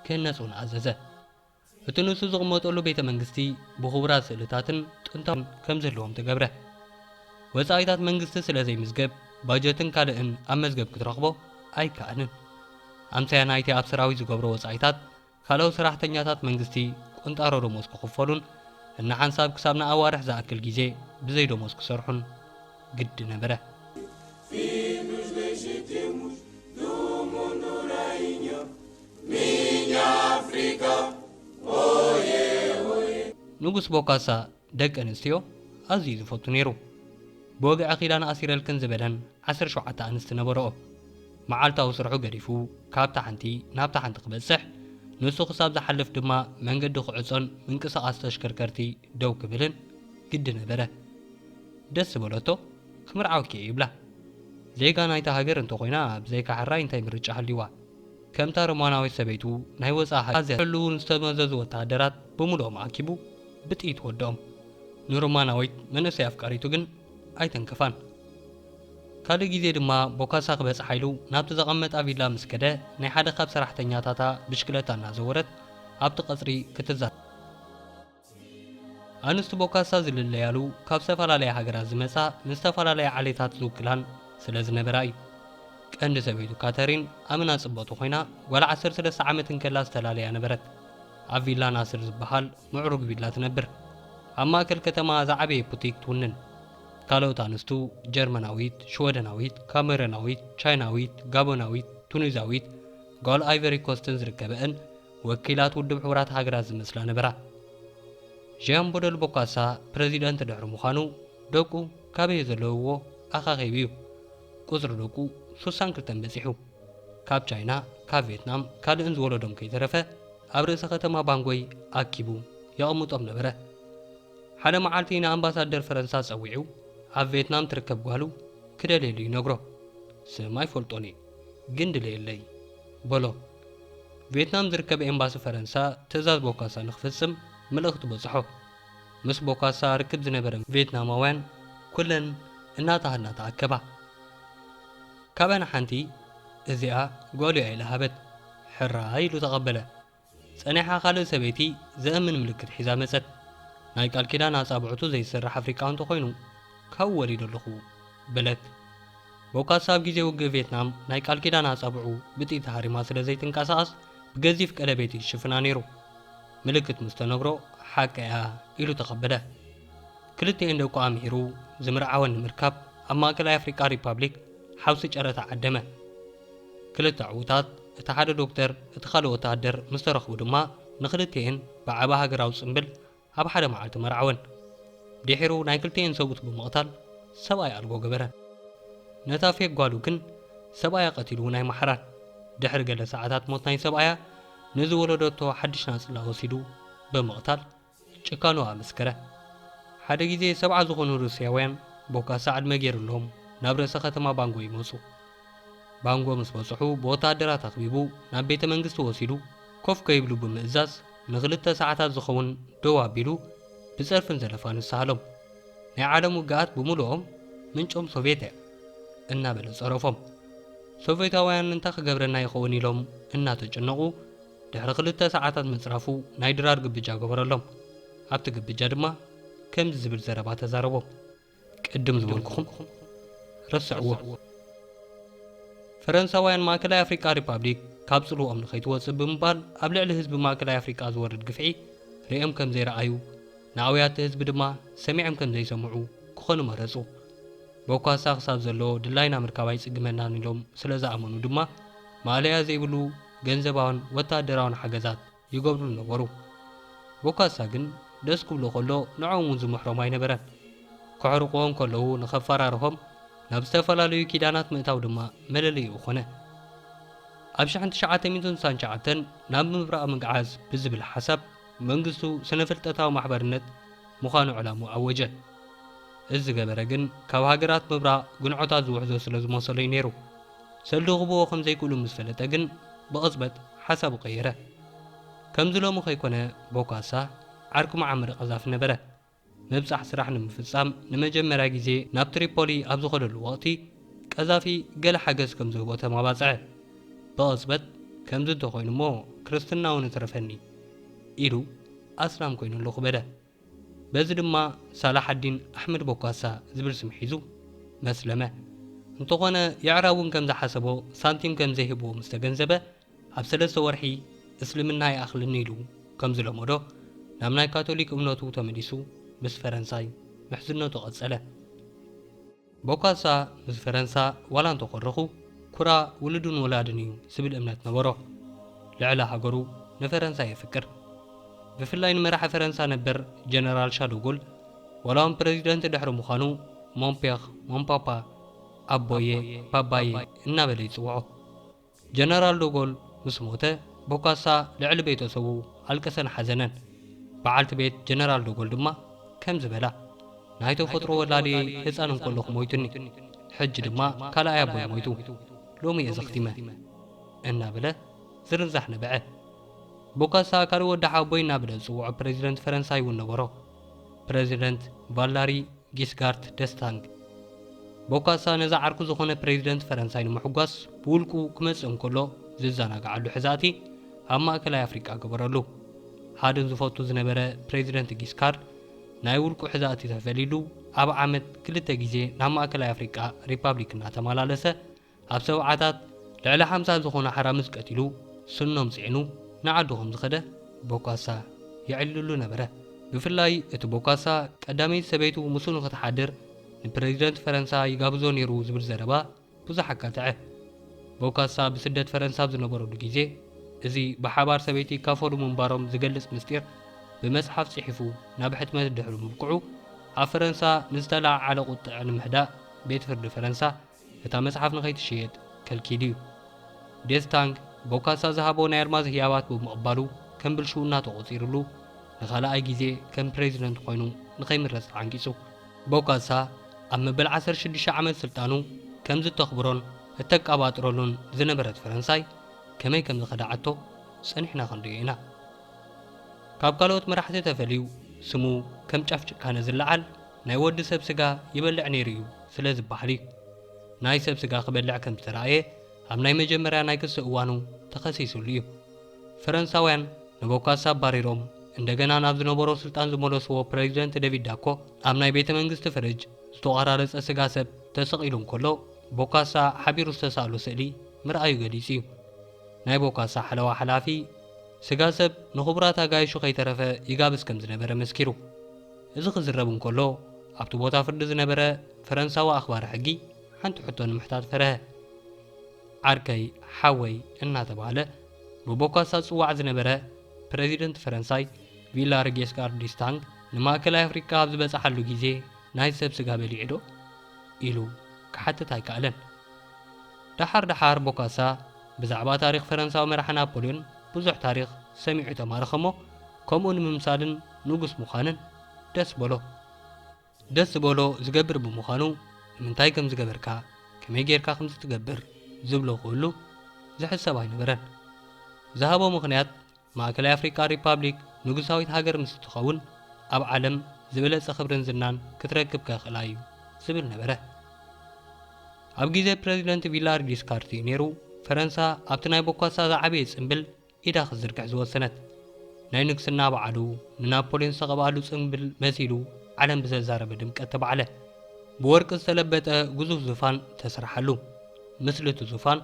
ክህነጽ እውን ኣዘዘ። እቲ ንሱ ዝቕመጠሉ ቤተ መንግስቲ ብኽቡራት ስእልታትን ጥንታውያን ከም ዝህልዎም ተገብረ። ወጻኢታት መንግስቲ ስለ ዘይምዝገብ ባጀትን ካልእን ኣብ መዝገብ ክትረኽቦ ኣይከኣልን። ኣምሳያ ናይቲ ኣብ ሰራዊት ዝገብሮ ወጻኢታት ካልኦት ሰራሕተኛታት መንግስቲ ቁንጣሮ ደሞዝ ክኽፈሉን እንሓንሳብ ክሳብ ንኣዋርሕ ዝኣክል ግዜ ብዘይ ደሞዝ ክሰርሑን ግዲ ነበረ። Filhos legítimos do mundo reino, ንጉስ ቦካሳ ደቂ ኣንስትዮ ኣዝዩ እዩ ዝፈቱ ነይሩ። ብወግዒ ኪዳን ኣሲረልክን ዝበለን ዓሰርተ ሸውዓተ ኣንስቲ ነበርኦ። መዓልታዊ ስርሑ ገዲፉ ካብታ ሓንቲ ናብታ ሓንቲ ክበጽሕ፣ ንሱ ክሳብ ዝሓልፍ ድማ መንገዲ ክዕጾን ምንቅስቓስ ተሽከርከርቲ ደው ክብልን ግዲ ነበረ። ደስ ዝበለቶ ክምርዓወኪ እየ ይብላ። ዜጋ ናይታ ሃገር እንተኾይና ብዘይካ ሕራይ እንታይ ምርጫ ሃልዩዋ? ከምታ ሮማናዊት ሰበይቱ ናይ ወጻኢ ሓይሊ ኣዝያ ክሕልዉ ንዝተመዘዙ ወተሃደራት ብምሉኦም ኣኪቡ ብጥይት ወድኦም። ንሮማናዊት መንእሰይ ኣፍቃሪቱ ግን ኣይተንከፋን። ካልእ ግዜ ድማ ቦካሳ ክበጽሓ ኢሉ ናብቲ ዘቐመጣ ቪላ ምስ ከደ ናይ ሓደ ካብ ሰራሕተኛታታ ብሽክለታ እናዘወረት ኣብቲ ቀጽሪ ክትዛረብ። ኣንስቲ ቦካሳ ዝልለያሉ ካብ ዝተፈላለያ ሃገራት ዝመጻ ንዝተፈላለያ ዓሌታት ዝውክላን ስለ ዝነበራ እዩ። ቀንዲ ሰበይቱ ካተሪን ኣመና ጽብቕቲ ኮይና ጓል ዓሰርተ ሰለስተ ዓመት እንከላ ዝተላለያ ነበረት። ኣብ ቪላ ናስር ዝበሃል ምዕሩግ ቪላ ትነብር። ኣብ ማእከል ከተማ ዝዓበየ ቡቲክ ትውንን። ካልኦት ኣንስቱ ጀርመናዊት፣ ሽወደናዊት፣ ካሜሮናዊት፣ ቻይናዊት፣ ጋቦናዊት፣ ቱኒዛዊት፣ ጓል ኣይቨሪ ኮስትን ዝርከበእን ወኪላት ውድብ ሕቡራት ሃገራት ዝመስላ ነበራ። ዢያን ቦደል ቦካሳ ፕረዚደንት ድሕሪ ምዃኑ ደቁ ካበይ ዘለውዎ ኣኻኺቡ እዩ ቁጽሪ ደቁ ሱሳን ክልተን በጺሑ። ካብ ቻይና ካብ ቬትናም ካልእን ዝወለዶም ከይተረፈ ኣብ ርእሰ ከተማ ባንጎይ ኣኪቡ የቐምጦም ነበረ። ሓደ መዓልቲ ንኣምባሳደር ፈረንሳ ጸዊዑ ኣብ ቬትናም ትርከብ ጓሉ ክደልየሉ ይነግሮ። ስማ ኣይፈልጦን እየ ግን ድለየለይ በሎ። ቬትናም ዝርከብ ኤምባሲ ፈረንሳ ትእዛዝ ቦካሳ ንኽፍጽም ምልእኽቲ በጽሖ። ምስ ቦካሳ ርክብ ዝነበረን ቬትናማውያን ኩለን እናተሃድና ተኣከባ። ካብኣን ሓንቲ እዚኣ ጓሉ'ያ ኢላ ሃበት። ሕራይ ኢሉ ተቐበለ። ጸኒሓ ካልእ ሰበይቲ ዘእምን ምልክት ሒዛ መጸት። ናይ ቃል ኪዳን ኣጻብዕቱ ዘይስራሕ ኣፍሪቃዊ እንተኾይኑ ካብኡ ወሊዶ ኣለኹ። በለት። ቦካሳ ኣብ ግዜ ውግእ ቬትናም ናይ ቃል ኪዳን ኣጻብዑ ብጥይት ተሃሪማ ስለ ዘይትንቀሳቐስ ብገዚፍ ቀለቤት እዩ ዝሽፍና ነይሩ። ምልክት ምስ ተነግሮ ሓቀ'ያ ኢሉ ተቐበለ። ክልቲኤን ደቁ ኣምሂሩ ዝምርዓወን ንምርካብ ኣብ ማእከላይ ኣፍሪቃ ሪፓብሊክ ሓውሲ ጨረታ ዓደመ። ክልተ ዕዉታት፣ እቲ ሓደ ዶክተር እቲ ካልእ ወተሃደር፣ ምስ ተረኽቡ ድማ ንኽልቲኤን ብዓቢ ሃገራዊ ጽምብል ኣብ ሓደ መዓልቲ መርዓወን። ድሒሩ ናይ ክልቲኤን ሰብኡት ብምቕታል ሰብኣይ ኣልቦ ገበረን። ነታ ፌክ ጓሉ ግን ሰብኣያ ቀቲሉ እውን ኣይመሓራን። ድሕሪ ገለ ሰዓታት ሞት ናይ ሰብኣያ ንዝወለደቶ ሓድሽ ናጽላ ወሲዱ ብምቕታል ጭካኑ ኣመስከረ። ሓደ ግዜ ሰብዓ ዝኾኑ ሩስያውያን ቦካሳ ዕድመ ገይርሎም ናብ ርእሰ ከተማ ባንጎ ይመጹ። ባንጎ ምስ በጽሑ ብወተሃደራት ኣኽቢቡ ናብ ቤተ መንግስቲ ወሲዱ ኮፍ ከይብሉ ብምእዛዝ ንኽልተ ሰዓታት ዝኸውን ደው ኣቢሉ ብጸርፍን ዘለፋን ዝሰሃሎም። ናይ ዓለም ውግኣት ብምሉኦም ምንጮም ሶቭየት እያ። እናበለ ጸረፎም። ሶቭየታውያን እንታይ ክገብረና ይኸውን ኢሎም እናተጨነቑ ድሕሪ ክልተ ሰዓታት ምጽራፉ ናይ ድራር ግብጃ ገበረሎም። ኣብቲ ግብጃ ድማ ከምዚ ዝብል ዘረባ ተዛረቦም። ቅድም ዝበልኩኹም ረስዕዎ። ፈረንሳውያን ማእከላይ ኣፍሪቃ ሪፓብሊክ ካብ ጽልወኦም ንኸይትወጽእ ብምባል ኣብ ልዕሊ ህዝቢ ማእከላይ ኣፍሪቃ ዝወርድ ግፍዒ ርእዮም ከም ዘይረኣዩ፣ ንኣውያት'ቲ ህዝቢ ድማ ሰሚዕም ከም ዘይሰምዑ ክኾኑ መረጹ። ቦካሳ ክሳብ ዘሎ ድላይና ምርካብ ኣይጽግመናን ኢሎም ስለ ዝኣመኑ ድማ ማእለያ ዘይብሉ ገንዘባውን ወተሃደራውን ሓገዛት፣ ይገብሩ ነበሩ። ቦካሳ ግን ደስ ክብሎ ከሎ ንዕኦም እውን ዝምሕሮም ኣይነበረን። ከሕርቕዎ እንከለዉ ንኸፈራርሆም ናብ ዝተፈላለዩ ኪዳናት ምእታው ድማ መለለዪኡ ኮነ። ኣብ ሽሕን ትሽዓተ ሚእትን ስሳን ትሽዓተን ናብ ምብራቕ ምግዓዝ ብዝብል ሓሳብ መንግስቱ ስነ-ፍልጠታዊ ማሕበርነት ምዃኑ ዕላምኡ ኣወጀ። እዚ ዝገበረ ግን ካብ ሃገራት ምብራቕ ግንዖታት ዝውሕዞ ስለ ዝመሰሎ እዩ ነይሩ። ሰልዲ ክህብዎ ከም ዘይክእሉ ምስ ፈለጠ ግን ብቕጽበት ሓሳቡ ቀየረ። ከምዚ ሎሚ ከይኮነ ቦካሳ ዓርኪ መዓመር ቀዛፊ ነበረ። ምብጻሕ ስራሕ ንምፍጻም ንመጀመርያ ግዜ ናብ ትሪፖሊ ኣብ ዝኸደሉ ወቕቲ ቀዛፊ ገለ ሓገዝ ከም ዝህቦ ተማባጽዐ። ብቕጽበት ከምዚ እንተ ኾይኑ እሞ ክርስትናውን እትረፈኒ ኢሉ ኣስላም ኮይነሉ ክበደ። በዚ ድማ ሳላሓዲን ኣሕመድ ቦካሳ ዝብል ስም ሒዙ መስለመ። እንተኾነ የዕራብውን ከም ዝሓሰቦ ሳንቲም ከም ዘይህብዎ ምስ ተገንዘበ ኣብ ሰለስተ ወርሒ እስልምና ይኣኽለኒ ኢሉ ከም ዝለመዶ ናብ ናይ ካቶሊክ እምነቱ ተመሊሱ ምስ ፈረንሳይ ምሕዝነቱ ቀጸለ። ቦካሳ ምስ ፈረንሳ ዋላ እንተኾረኹ ኩራ ውሉድን ወላድን እዩ ዝብል እምነት ነበሮ። ልዕሊ ሃገሩ ንፈረንሳ የፍቅር። ብፍላይ ንመራሒ ፈረንሳ ነበር ጀነራል ሻዶጎል ዋላውን ፕረዚደንት ድሕሪ ምዃኑ ሞን ፔር፣ Mon Papa፣ ኣቦየ፣ ባባየ፣ እናበለ ይጽውዖ። ጀነራል ዶጎል ምስ ሞተ፣ ቦካሳ ልዕሊ ቤተሰቡ ኣልቀሰን ሓዘነን። በዓልቲ ቤት ጀነራል ዶጎል ድማ ከምዚ በላ፣ ናይ ተፈጥሮ ወላዲየይ ህጻን እንከለኹ ሞይቱኒ። ሕጂ ድማ ካልኣይ ኣቦይ ሞይቱ። ሎሚ'የ ዘኽቲመ። እናበለ ዝርንዛሕ ነበዐ። ቦካሳ ካልእ ወዲ ሓወቦይ እናበለ ዝጽውዖ ፕረዚደንት ፈረንሳይ'ውን ነበሮ። ፕረዚደንት ቫላሪ ጊስጋርት ደስታንግ ቦካሳ ነዚ ዓርኩ ዝኾነ ፕረዚደንት ፈረንሳይ ንምሕጓስ ብውልቁ ክመጽእ እንከሎ ዝዘናግዓሉ ሕዛእቲ ኣብ ማእከላይ ኣፍሪቃ ገበረሉ። ሓደ ዝፈቱ ዝነበረ ፕረዚደንት ጊስካርድ ናይ ውልቁ ሕዛእቲ ተፈሊሉ ኣብ ዓመት ክልተ ግዜ ናብ ማእከላይ ኣፍሪቃ ሪፓብሊክ እናተመላለሰ ኣብ ሰብዓታት ልዕሊ ሓምሳ ዝኾኑ ኣሕራምዝ ቀቲሉ ስኖም ጽዒኑ ንዓዱ ከም ዝኸደ ቦካሳ የዕልለሉ ነበረ። ብፍላይ እቲ ቦካሳ ቀዳመይቲ ሰበይቱ ምስኡ ንኽትሓድር ንፕረዚደንት ፈረንሳ ይጋብዞ ነይሩ ዝብል ዘረባ ብዙሕ ኣጋትዐ። ቦካሳ ብስደት ፈረንሳ ኣብ ዝነበረሉ ግዜ እዚ ብሓባር ሰበይቲ ይካፈሉ ምንባሮም ዝገልጽ ምስጢር ብመጽሓፍ ጽሒፉ ናብ ሕትመት ድሕሪ ምብቅዑ ኣብ ፈረንሳ ንዝተለዓዓለ ቁጥዐ ንምህዳእ ቤት ፍርዲ ፈረንሳ እታ መጽሓፍ ንኸይትሽየጥ ከልኪሉ እዩ። ዴዝ ታንግ ቦካሳ ዝሃቦ ናይ ኣርማዝ ህያባት ብምቕባሉ ከም ብልሽውና ተቖጺሩሉ ንኻልኣይ ግዜ ከም ፕረዚደንት ኮይኑ ንኸይምረጽ ተዓንቂጹ። ቦካሳ ኣብ መበል ዓሰርተ ሽዱሽተ ዓመት ስልጣኑ ከምዚ እተኽብሮን እተቀባጥረሉን ዝነበረት ፈረንሳይ ከመይ ከም ዝኸድዓቶ ጸኒሕና ክንርእዮ ኢና። ካብ ካልኦት መራሕቲ ተፈልዩ ስሙ ከም ጫፍ ጭካነ ዝለዓል፣ ናይ ወዲ ሰብ ስጋ ይበልዕ ነይሩ እዩ ስለ ዝበሃል እዩ ናይ ሰብ ስጋ ክበልዕ ከም ዝተራእየ ኣብ ናይ መጀመርያ ናይ ክሲ እዋኑ ተኸሲስሉ እዩ። ፈረንሳውያን ንቦካሳ ኣባሪሮም እንደገና ናብ ዝነበሮ ስልጣን ዝመለስዎ ፕረዚደንት ደቪድ ዳኮ ኣብ ናይ ቤተ መንግስቲ ፍርጅ ዝተቖራረጸ ስጋ ሰብ ተሰቒሉ እንከሎ ቦካሳ ሓቢሩ ዝተሳእሎ ስእሊ ምርኣዩ ገሊጹ እዩ። ናይ ቦካሳ ሓለዋ ሓላፊ ስጋ ሰብ ንኽቡራት ኣጋይሹ ከይተረፈ ይጋብዝ ከም ዝነበረ መስኪሩ። እዚ ክዝረብ እንከሎ፣ ኣብቲ ቦታ ፍርዲ ዝነበረ ፈረንሳዊ ኣኽባሪ ሕጊ ሓንቲ ሕቶ ንምሕታት ፈረሀ። ዓርከይ፣ ሓወይ እናተባህለ ብቦካሳ ዝጽዋዕ ዝነበረ ፕረዚደንት ፈረንሳይ ቪላር ጌስካር ዲስታንግ ንማእከላይ ኣፍሪቃ ኣብ ዝበጽሓሉ ግዜ ናይ ሰብ ስጋ በሊዑዶ? ኢሉ ክሓትት ኣይከኣለን። ደሓር ደሓር ቦካሳ ብዛዕባ ታሪኽ ፈረንሳዊ መራሒ ናፖልዮን ብዙሕ ታሪኽ ሰሚዑ ተማረኸ'ሞ፣ ከምኡ ንምምሳልን ንጉስ ምዃንን ደስ በሎ። ደስ ዝበሎ ዝገብር ብምዃኑ ንምንታይ ከም ዝገበርካ፣ ከመይ ጌርካ ከምዚ ትገብር ዝብሎ ክህሉ ዝሕሰብ ኣይነበረን። ዝሃቦ ምኽንያት ማእከላይ ኣፍሪቃ ሪፓብሊክ ንጉሳዊት ሃገር ምስ እትኸውን ኣብ ዓለም ዝበለጸ ክብርን ዝናን ክትረክብ ከኽእላ እዩ ዝብል ነበረ። ኣብ ግዜ ፕረዚደንት ቪላርጊስ ካርቲይ ኔሩ ፈረንሳ ኣብቲ ናይ ቦኳሳ ዝዓበየ ጽምብል ኢዳ ክትዝርግሕ ዝወሰነት። ናይ ንግስና በዓሉ ንናፖልዮን ዝተቐብኣሉ ጽንብል መሲሉ ዓለም ብዘዛረበ ድምቀት ተባዕለ። ብወርቂ ዝተለበጠ ግዙፍ ዙፋን ተሰርሓሉ። ምስሊ እቲ ዙፋን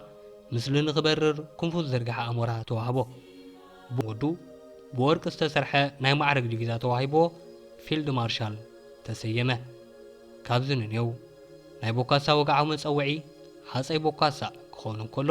ምስሊ ንኽበርር ክንፉ ዝዘርግሐ ኣሞራ ተዋህቦ። ብወዱ ብወርቂ ዝተሰርሐ ናይ ማዕርግ ዲቪዛ ተዋሂብዎ ፊልድ ማርሻል ተሰየመ። ካብዚ ንኔው ናይ ቦካሳ ወግዓዊ መጸውዒ ሃጸይ ቦካሳ ክኸውን እንከሎ፣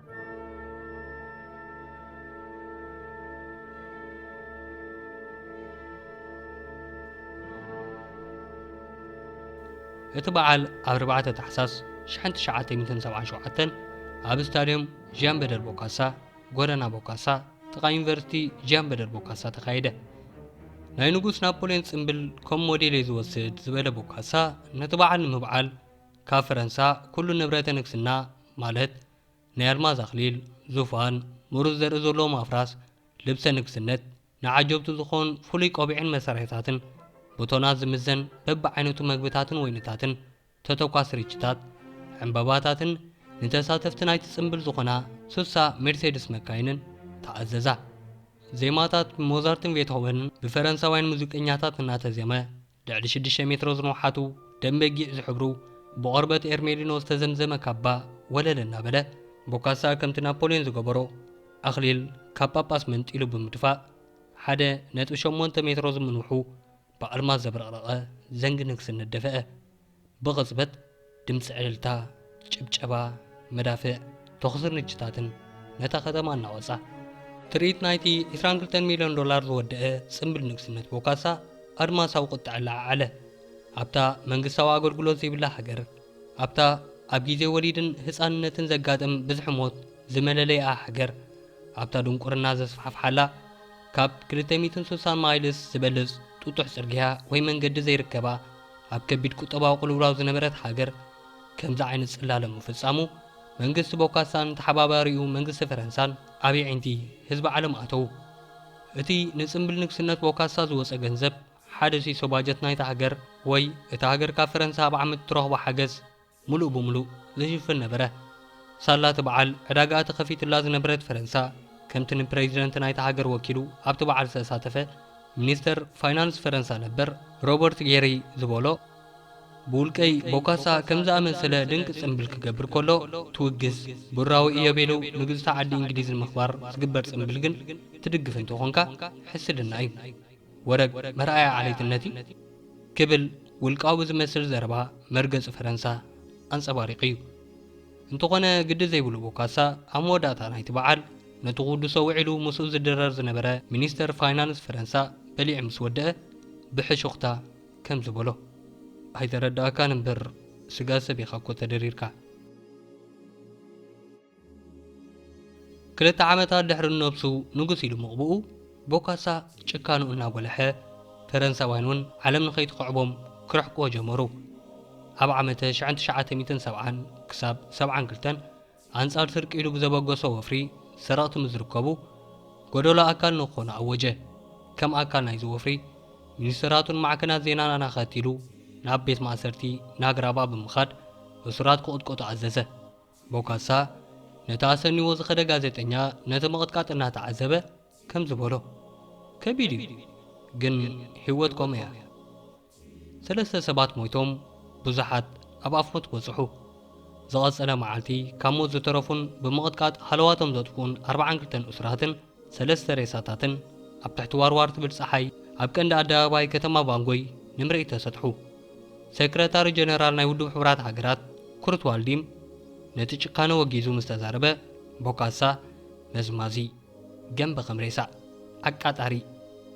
እቲ በዓል ኣብ 4 ታሕሳስ 1977 ኣብ ስታድየም ዣን በደር ቦካሳ ጎደና ቦካሳ ጥቓ ዩኒቨርሲቲ ዣን በደር ቦካሳ ተኻየደ። ናይ ንጉስ ናፖልዮን ጽምብል ከም ሞዴል እየ ዝወስድ ዝበለ ቦካሳ ነቲ በዓል ንምብዓል ካብ ፈረንሳ ኩሉ ንብረተ ንግስና ማለት ናይ ኣልማዝ ኣኽሊል፣ ዙፋን፣ ምሩፅ ዘርኢ ዘለዎም ኣፍራስ፣ ልብሰ ንግስነት፣ ንዓጀብቱ ዝኾን ፍሉይ ቆቢዕን መሳርሒታትን፣ ብቶናት ዝምዘን በብዓይነቱ መግብታትን ወይንታትን፣ ተተኳሲ ርችታት፣ ዕምበባታትን ንተሳተፍቲ ናይቲ ፅምብል ዝኾና ስሳ ሜርሴድስ መካይንን ተኣዘዛ። ዜማታት ብሞዛርትን ቤትሆቨንን ብፈረንሳውያን ሙዚቀኛታት እናተዜመ ልዕሊ ሽዱሽተ ሜትሮ ዝንውሓቱ ደም በጊዕ ዝሕብሩ ብቖርበት ኤርሜሊኖ ዝተዘምዘመ ካባ ወለል እናበለ ቦካሳ ከምቲ ናፖልዮን ዝገበሮ ኣኽሊል ካብ ጳጳስ መንጢሉ ብምድፋእ ሓደ ነጥቢ ሸሞንተ ሜትሮ ዝምንውሑ ብኣልማዝ ዘብረቕረቐ ዘንጊ ንግስነት ደፍአ። ብቕጽበት ድምጺ ዕልልታ፣ ጭብጨባ፣ መዳፍዕ፣ ተኹስን ርችታትን ነታ ከተማ ኣናወጻ። ትርኢት ናይቲ ዕስራን ክልተን ሚልዮን ዶላር ዝወደኣ ጽምብል ንግስነት ቦካሳ ኣድማሳዊ ቁጥዐ ኣለዓዓለ። ኣብታ መንግስታዊ ኣገልግሎት ዘይብላ ሃገር፣ ኣብታ ኣብ ግዜ ወሊድን ህጻንነትን ዘጋጥም ብዝሒ ሞት ዝመለለይኣ ሃገር፣ ኣብታ ድንቁርና ዘስፋሕፍሓላ ካብ ክልተ ሚእትን ስሳን ማይልስ ዝበልጽ ጥጡሕ ጽርግያ ወይ መንገዲ ዘይርከባ፣ ኣብ ከቢድ ቁጠባዊ ቅልውላው ዝነበረት ሃገር ከምዚ ዓይነት ጽላለ ምፍጻሙ መንግስቲ ቦካሳን ተሓባባሪኡ መንግስቲ ፈረንሳን ኣብ የዒንቲ ህዝቢ ዓለም ኣተዉ። እቲ ንጽምብል ንግስነት ቦካሳ ዝወጸ ገንዘብ ሓደ ሲሶ ባጀት ናይታ ሃገር ወይ እታ ሃገር ካብ ፈረንሳ ኣብ ዓመት እትረኽቦ ሓገዝ ምሉእ ብምሉእ ዝሽፍን ነበረ። ሳላ እቲ በዓል ዕዳጋኣ ተኸፊቱላ ዝነበረት ፈረንሳ፣ ከምቲ ንፕረዚደንት ናይታ ሃገር ወኪሉ ኣብቲ በዓል ዝተሳተፈ ሚኒስተር ፋይናንስ ፈረንሳ ነበር ሮበርት ጌሪ ዝበሎ፣ ብውልቀይ ቦካሳ ከም ዝኣመሰለ ድንቂ ጽምብል ክገብር ከሎ ትውግስ፣ ብርራዊ ኢዮቤልው ንግዝቲ ዓዲ እንግሊዝ ንምኽባር ዝግበር ጽምብል ግን ትድግፍ እንተኾንካ ሕስድና እዩ። ወረግ መርኣያ ዓሌትነት እዩ ክብል ውልቃዊ ዝመስል ዘረባ መርገጺ ፈረንሳ ኣንጸባሪቑ እዩ። እንተኾነ ግዲ ዘይብሉ ቦካሳ ኣብ መወዳእታ ናይቲ በዓል ነቲ ክውድሶ ውዒሉ ምስኡ ዝድረር ዝነበረ ሚኒስተር ፋይናንስ ፈረንሳ በሊዑ ምስ ወደኣ ብሕሹኽታ ከምዚ በሎ፣ ኣይተረድኣካን እምበር ስጋ ሰብ ኢኻ እኮ ተደሪርካ። ክልተ ዓመታት ድሕሪ ንነብሱ ንጉስ ኢሉ ምቕብኡ፣ ቦካሳ ጭካኑ እናጎለሐ፣ ፈረንሳውያን እውን ዓለም ንኸይትኽዕቦም ክርሕቅዎ ጀመሩ። ኣብ ዓመተ ሽሕን ትሽዓተ ሚእትን ሰብዓን ክሳብ ሰብዓን ክልተን ኣንጻር ስርቂ ኢሉ ብዘበገሶ ወፍሪ ሰረቕቲ ምስ ዝርከቡ ጎደሎ ኣካል ንክኾኑ ኣወጀ። ከም ኣካል ናይዚ ወፍሪ፣ ሚኒስተራቱን ማዕከናት ዜናን ኣናኸቲሉ ናብ ቤት ማእሰርቲ ናግራባ ብምኻድ እሱራት ክቕጥቀጡ ኣዘዘ። ቦካሳ ነቲ ኣሰንይዎ ዝኸደ ጋዜጠኛ ነቲ ምቕጥቃጥ እናተዓዘበ ከምዚ በሎ፣ ከቢድ እዩ፣ ግን ህይወት ከምኡ እያ። ሰለስተ ሰባት ሞይቶም፣ ብዙሓት ኣብ ኣፍ ሞት በጽሑ። ዝቐጸለ መዓልቲ ካብ ሞት ዝተረፉን ብምቕጥቃጥ ሃለዋቶም ዘጥፍኡን ኣርብዓን ክልተን እሱራትን፣ ሰለስተ ሬሳታትን ኣብ ትሕቲ ዋርዋር ትብል ጸሓይ ኣብ ቀንዲ ኣደባባይ ከተማ ባንጎይ ንምርኢት ተሰጥሑ። ሰክረታሪ ጀነራል ናይ ውድብ ሕቡራት ሃገራት ኩርት ዋልዲም ነቲ ጭካነ ወጊዙ ምስ ተዛረበ፣ ቦካሳ መዝማዚ ገምቢ ከም ሬሳ ኣቃጣሪ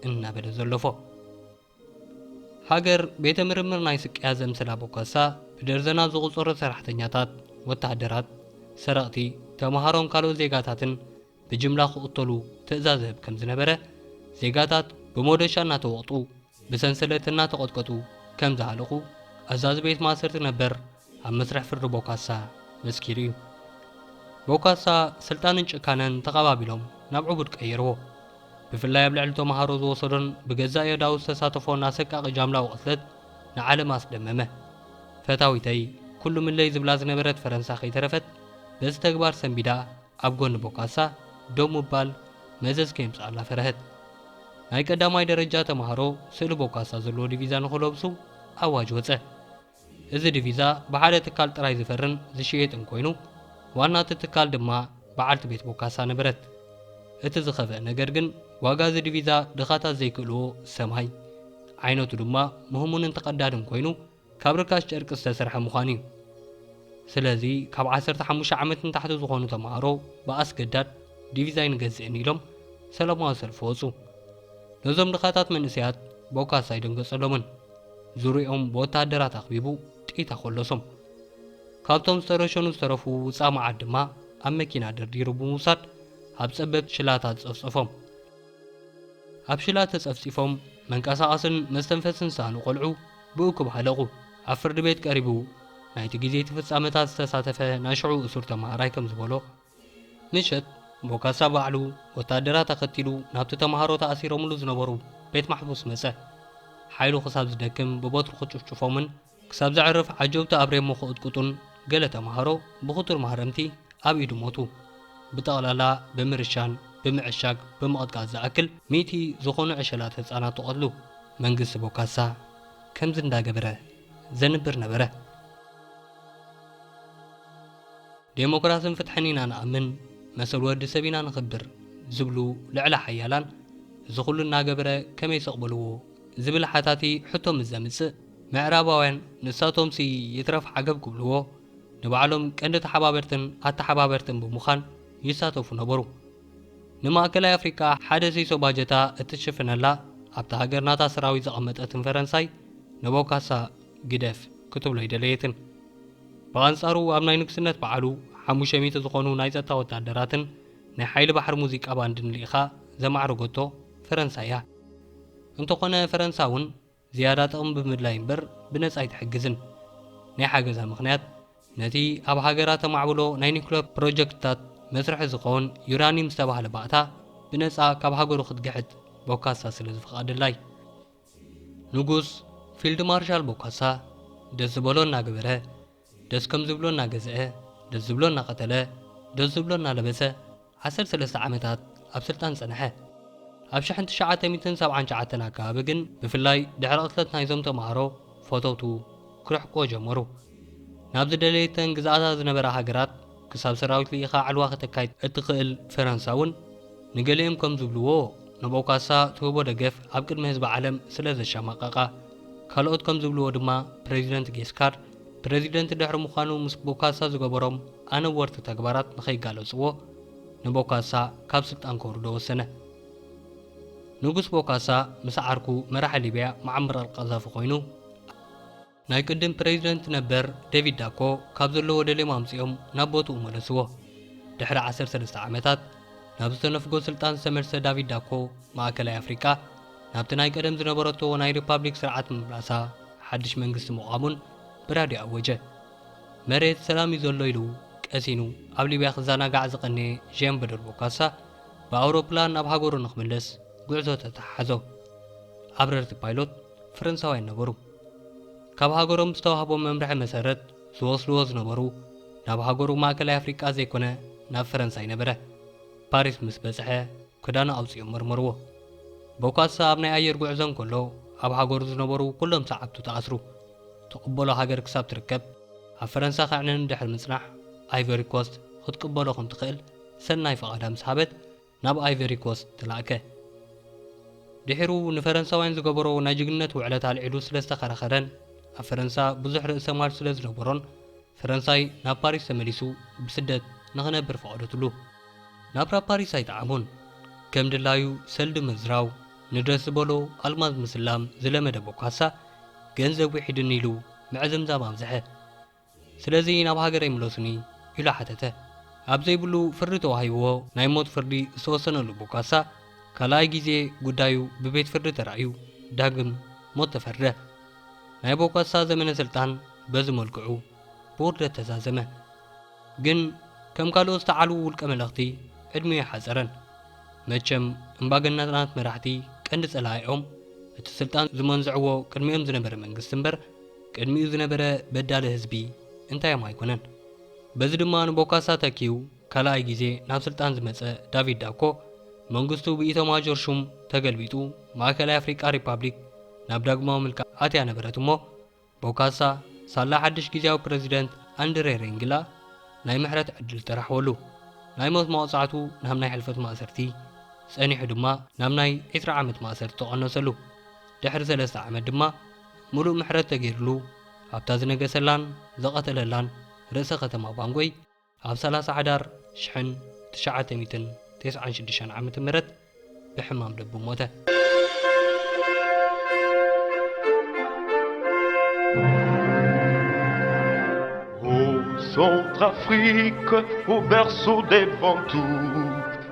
እናበለ ዘለፎ። ሃገር ቤተ ምርምር ናይ ስቅያ ዘምስላ ቦካሳ ብደርዘናት ዝቑጸሩ ሰራሕተኛታት፣ ወተሃደራት፣ ሰረቕቲ፣ ተማሃሮን ካልኦት ዜጋታትን ብጅምላ ክቕተሉ ትእዛዝ እህብ ከም ዝነበረ፣ ዜጋታት ብሞዶሻ እናተወቕጡ፣ ብሰንሰለት እናተቐጥቀጡ ከም ዝሃለቑ ኣዛዚ ቤት ማእሰርቲ ነበር፣ ኣብ መስርሕ ፍርዲ ቦካሳ መስኪሩ እዩ። ቦካሳ ስልጣንን ጭካነን ተቓባቢሎም ናብ ዕቡድ ቀይርዎ። ብፍላይ ኣብ ልዕሊ ተማሃሮ ዝወሰዶን ብገዛእ የእዳዉ ዝተሳተፎን ኣሰቃቒ ጃምላዊ ቅትለት ንዓለም ኣስደመመ። ፈታዊተይ ኩሉምለይ ዝብላ ዝነበረት ፈረንሳ ከይተረፈት በዚ ተግባር ሰንቢዳ ኣብ ጎኒ ቦካሳ ደው ምባል መዘዝ ከየምጽኣላ ፈረሀት። ናይ ቀዳማይ ደረጃ ተማሃሮ ስእሊ ቦካሳ ዘለዎ ዲቪዛ ንኽለብሱ ኣዋጅ ወጸ። እዚ ዲቪዛ ብሓደ ትካል ጥራይ ዝፈርን ዝሽየጥን ኮይኑ፣ ዋና እቲ ትካል ድማ በዓልቲ ቤት ቦካሳ ነበረት። እቲ ዝኸፍኣ ነገር ግን ዋጋ እዚ ዲቪዛ ድኻታት ዘይክእልዎ ሰማይ፣ ዓይነቱ ድማ ምህሙንን ተቐዳድን ኮይኑ ካብ ርካሽ ጨርቂ ዝተሰርሐ ምዃኑ እዩ። ስለዚ ካብ ዓሰርተ ሓሙሽተ ዓመት ንታሕቲ ዝኾኑ ተማሃሮ ብኣስገዳድ ዲቪዛ ኣይንገዝእን ኢሎም ሰለማዊ ሰልፊ ወጹ። ነዞም ድኻታት መንእሰያት ቦካሳ ኣይደንገጸሎምን። ዙርይኦም ብወተሃደራት ኣኽቢቡ ጥይት ኣኾለሶም። ካብቶም ዝተረሸኑ ዝተረፉ ውፃእ መዓት ድማ ኣብ መኪና ደርዲሩ ብምውሳድ ኣብ ፀበብቲ ሽላታት ፀፍፀፎም። ኣብ ሽላ ተፀፍፂፎም መንቀሳቐስን መስተንፈስን ዝሰኣኑ ቆልዑ ብእኩብ ሃለቑ። ኣብ ፍርዲ ቤት ቀሪቡ ናይቲ ግዜ እቲ ፍፃመታት ዝተሳተፈ ናይ ሽዑ እሱር ተምሃራይ ከምዝበሎ፣ ምሸት ቦካሳ ባዕሉ ወታደራት ኣኸቲሉ ናብቲ ተማሃሮ ተኣሲሮምሉ ዝነበሩ ቤት ማሕቡስ መጸ። ሓይሉ ክሳብ ዝደክም ብበትሩ ክጭፍጭፎምን ክሳብ ዘዕርፍ ዓጀውቲ ኣብ ሬሞ ክቕጥቅጡን ገለ ተማሃሮ ብኽቱር ማህረምቲ ኣብ ኢዱ ሞቱ። ብጠቕላላ ብምርሻን ብምዕሻግ ብምቕጥቃጥ ዝኣክል ሚእቲ ዝኾኑ ዕሸላት ህጻናት ተቐትሉ። መንግስቲ ቦካሳ ከምዚ እንዳገበረ ዘንብር ነበረ። ዴሞክራስን ፍትሕን ኢና ንኣምን፣ መሰል ወዲ ሰብ ኢና ነኽብር ዝብሉ ልዕለ ሓያላን እዚ ኩሉ እናገበረ ከመይ ስቕ በልዎ ዝብል ሓታቲ ሕቶ ምስ ዘምጽእ፣ ምዕራባውያን ንሳቶምሲ ይትረፍ ዓገብ ክብልዎ ንባዕሎም ቀንዲ ተሓባበርትን ኣተሓባበርትን ብምዃን ይሳተፉ ነበሩ። ንማእከላይ ኣፍሪቃ ሓደ ሲሶ ባጀታ እትሽፍነላ ኣብታ ሃገር ናታ ሰራዊት ዘቐመጠትን ፈረንሳይ ንቦካሳ ግደፍ ክትብሎ ኣይደለየትን። ብኣንጻሩ ኣብ ናይ ንግስነት በዓሉ ሓሙሽተ ሚእቲ ዝኾኑ ናይ ጸጥታ ወተሃደራትን ናይ ሓይሊ ባሕሪ ሙዚቃ ባንድን ልኢኻ ዘማዕረገቶ ፈረንሳ እያ። እንተኾነ ፈረንሳ እውን ዝያዳ ጥቕሚ ብምድላይ እምበር ብነጻ ኣይትሕግዝን። ናይ ሓገዛ ምኽንያት ነቲ ኣብ ሃገራ ተማዕብሎ ናይ ኒኩለር ፕሮጀክትታት መስርሒ ዝኸውን ዩራኒም ዝተባህለ ባእታ ብነጻ ካብ ሃገሩ ክትግሕጥ ቦካሳ ስለ ዝፍቐደላ እዩ። ንጉስ ፊልድ ማርሻል ቦካሳ ደስ ዝበሎ እናገበረ፣ ደስ ከም ዝብሎ እናገዝአ፣ ደስ ዝብሎ እናቐተለ፣ ደስ ዝብሎ እናለበሰ ዓሰርተ ሰለስተ ዓመታት ኣብ ስልጣን ጸንሐ። ኣብ ሽሕን ትሽዓተ ሚእትን ሰብዓን ትሽዓተን ኣከባቢ ግን ብፍላይ ድሕሪ ቅትለት ናይዞም ተማሃሮ ፈተውቱ ክርሕቁዎ ጀመሩ። ናብ ዝደለየተን ግዝኣታት ዝነበራ ሃገራት ክሳብ ሰራዊት ልኢኻ ዕልዋ ከተካይድ እትኽእል ፈረንሳ እውን ንገሊኦም ከም ዝብልዎ ንብኦ ካሳ ትህቦ ደገፍ ኣብ ቅድሚ ህዝቢ ዓለም ስለ ዘሻማቐቓ ካልኦት ከም ዝብልዎ ድማ ፕረዚደንት ጌስካር ፕረዚደንት ድሕሪ ምዃኑ ምስ ቦካሳ ዝገበሮም ኣነወርቲ ተግባራት ንኸይጋለጽዎ ንቦካሳ ካብ ስልጣን ከውርዶ ወሰነ። ንጉስ ቦካሳ ምስ ዓርኩ መራሒ ሊብያ መዓምር ኣልቃዛፊ ኮይኑ፣ ናይ ቅድም ፕረዚደንት ነበር ደቪድ ዳኮ ካብ ዘለዎ ደልዮም ኣምጺኦም ናብ ቦትኡ መለስዎ። ድሕሪ ዓሰርተ ሰለስተ ዓመታት፣ ናብ ዝተነፍጎ ስልጣን ዝተመልሰ ዳቪድ ዳኮ፣ ማእከላይ ኣፍሪቃ ናብቲ ናይ ቀደም ዝነበረቶ ናይ ሪፓብሊክ ስርዓት ምምላሳ፣ ሓድሽ መንግስቲ ምቛሙን ብራድዮ ኣወጀ። መሬት ሰላም እዩ ዘሎ ኢሉ ቀሲኑ ኣብ ሊብያ ክዘናጋዕ ዝቐነየ ዠን በዶር ቦካሳ፣ ብኣውሮፕላን ናብ ሃገሩ ንክምለስ ጉዕዞ ተተሓሓዞ። ኣብረርቲ ፓይሎት ፈረንሳውያን ነበሩ። ካብ ሃገሮም ብዝተዋህቦም መምርሒ መሰረት ዝወስድዎ ዝነበሩ ናብ ሃገሩ ማእከላይ ኣፍሪቃ ዘይኮነ ናብ ፈረንሳይ ነበረ። ፓሪስ ምስ በጽሐ ክዳኑ ኣውጺኦም መርመርዎ። ቦካሳ ኣብ ናይ ኣየር ጉዕዞ እንከሎ ኣብ ሃገሩ ዝነበሩ ኩሎም ሰዓብቱ ተኣስሩ። ትቕበሎ ሃገር ክሳብ ትርከብ ኣብ ፈረንሳ ከዕንኑ ድሕሪ ምጽናሕ ኣይቨሪ ኮስት ክትቅበሎ ከም ትኽእል ሰናይ ፍቓዳ ምስ ሃበት፣ ናብ ኣይቨሪ ኮስት ተላእከ። ድሒሩ ንፈረንሳውያን ዝገበሮ ናይ ጅግንነት ውዕለት ኣልዒሉ ስለ ዝተኸራኸረን ኣብ ፈረንሳ ብዙሕ ርእሰ ማል ስለ ዝነበሮን ፈረንሳይ ናብ ፓሪስ ተመሊሱ ብስደት ንኽነብር ፈቐደትሉ። ናብራ ፓሪስ ኣይጠዓሞን። ከም ድላዩ ሰልዲ ምዝራው፣ ንደስ ዝበሎ ኣልማዝ ምስላም ዝለመደ ቦካሳ፣ ገንዘብ ዊሒዱኒ ኢሉ ምዕዝምዛም ኣብዝሐ። ስለዚ ናብ ሃገረይ ምለሱኒ ኢሉ ሓተተ። ኣብ ዘይብሉ ፍርዲ ተዋሂብዎ ናይ ሞት ፍርዲ ዝተወሰነሉ ቦካሳ ካልኣይ ግዜ ጉዳዩ ብቤት ፍርዲ ተራእዩ ዳግም ሞት ተፈርደ። ናይ ቦካሳ ዘመነ ስልጣን በዚ መልክዑ ብውርደት ተዛዘመ። ግን ከም ካልኦት ዝተዓልዉ ውልቀ መለኽቲ ዕድሚኡ ኣይሓጸረን። መቸም እምባገነናት መራሕቲ ቀንዲ ጸላኢኦም እቲ ስልጣን ዝመንዝዕዎ ቅድሚኦም ዝነበረ መንግስቲ እምበር፣ ቅድሚኡ ዝነበረ በዳሊ ህዝቢ እንታዮም ኣይኮነን። በዚ ድማ ንቦካሳ ተኪኡ ካልኣይ ግዜ ናብ ስልጣን ዝመጸ ዳቪድ ዳኮ፣ መንግስቱ ብኢቶማጆር ሹም ተገልቢጡ ማእከላይ ኣፍሪቃ ሪፓብሊክ ናብ ዳግማዊ ምልካኣ ኣትያ ነበረት እሞ፣ ቦካሳ ሳላ ሓድሽ ግዝያዊ ፕረዚደንት ኣንድሬ ሬንግላ ናይ ምሕረት ዕድል ተራሕወሉ። ናይ ሞት መቕጻዕቱ ናብ ናይ ሕልፈት ማእሰርቲ፣ ጸኒሑ ድማ ናብ ናይ ዕስራ ዓመት ማእሰርቲ ተቐነሰሉ። ድሕሪ ሰለስተ ዓመት ድማ፣ ምሉእ ምሕረት ተገይርሉ ኣብታ ዝነገሰላን ዝቐተለላን ርእሰ ከተማ ባንጎይ ኣብ ሰላሳ ሓዳር ሽሕን ትሽዓተ ሚእትን ቴስዓን ሽዱሽተን ዓመተ ምህረት ብሕማም ልቡ ሞተ። Centrafrique, au berceau des ventouses.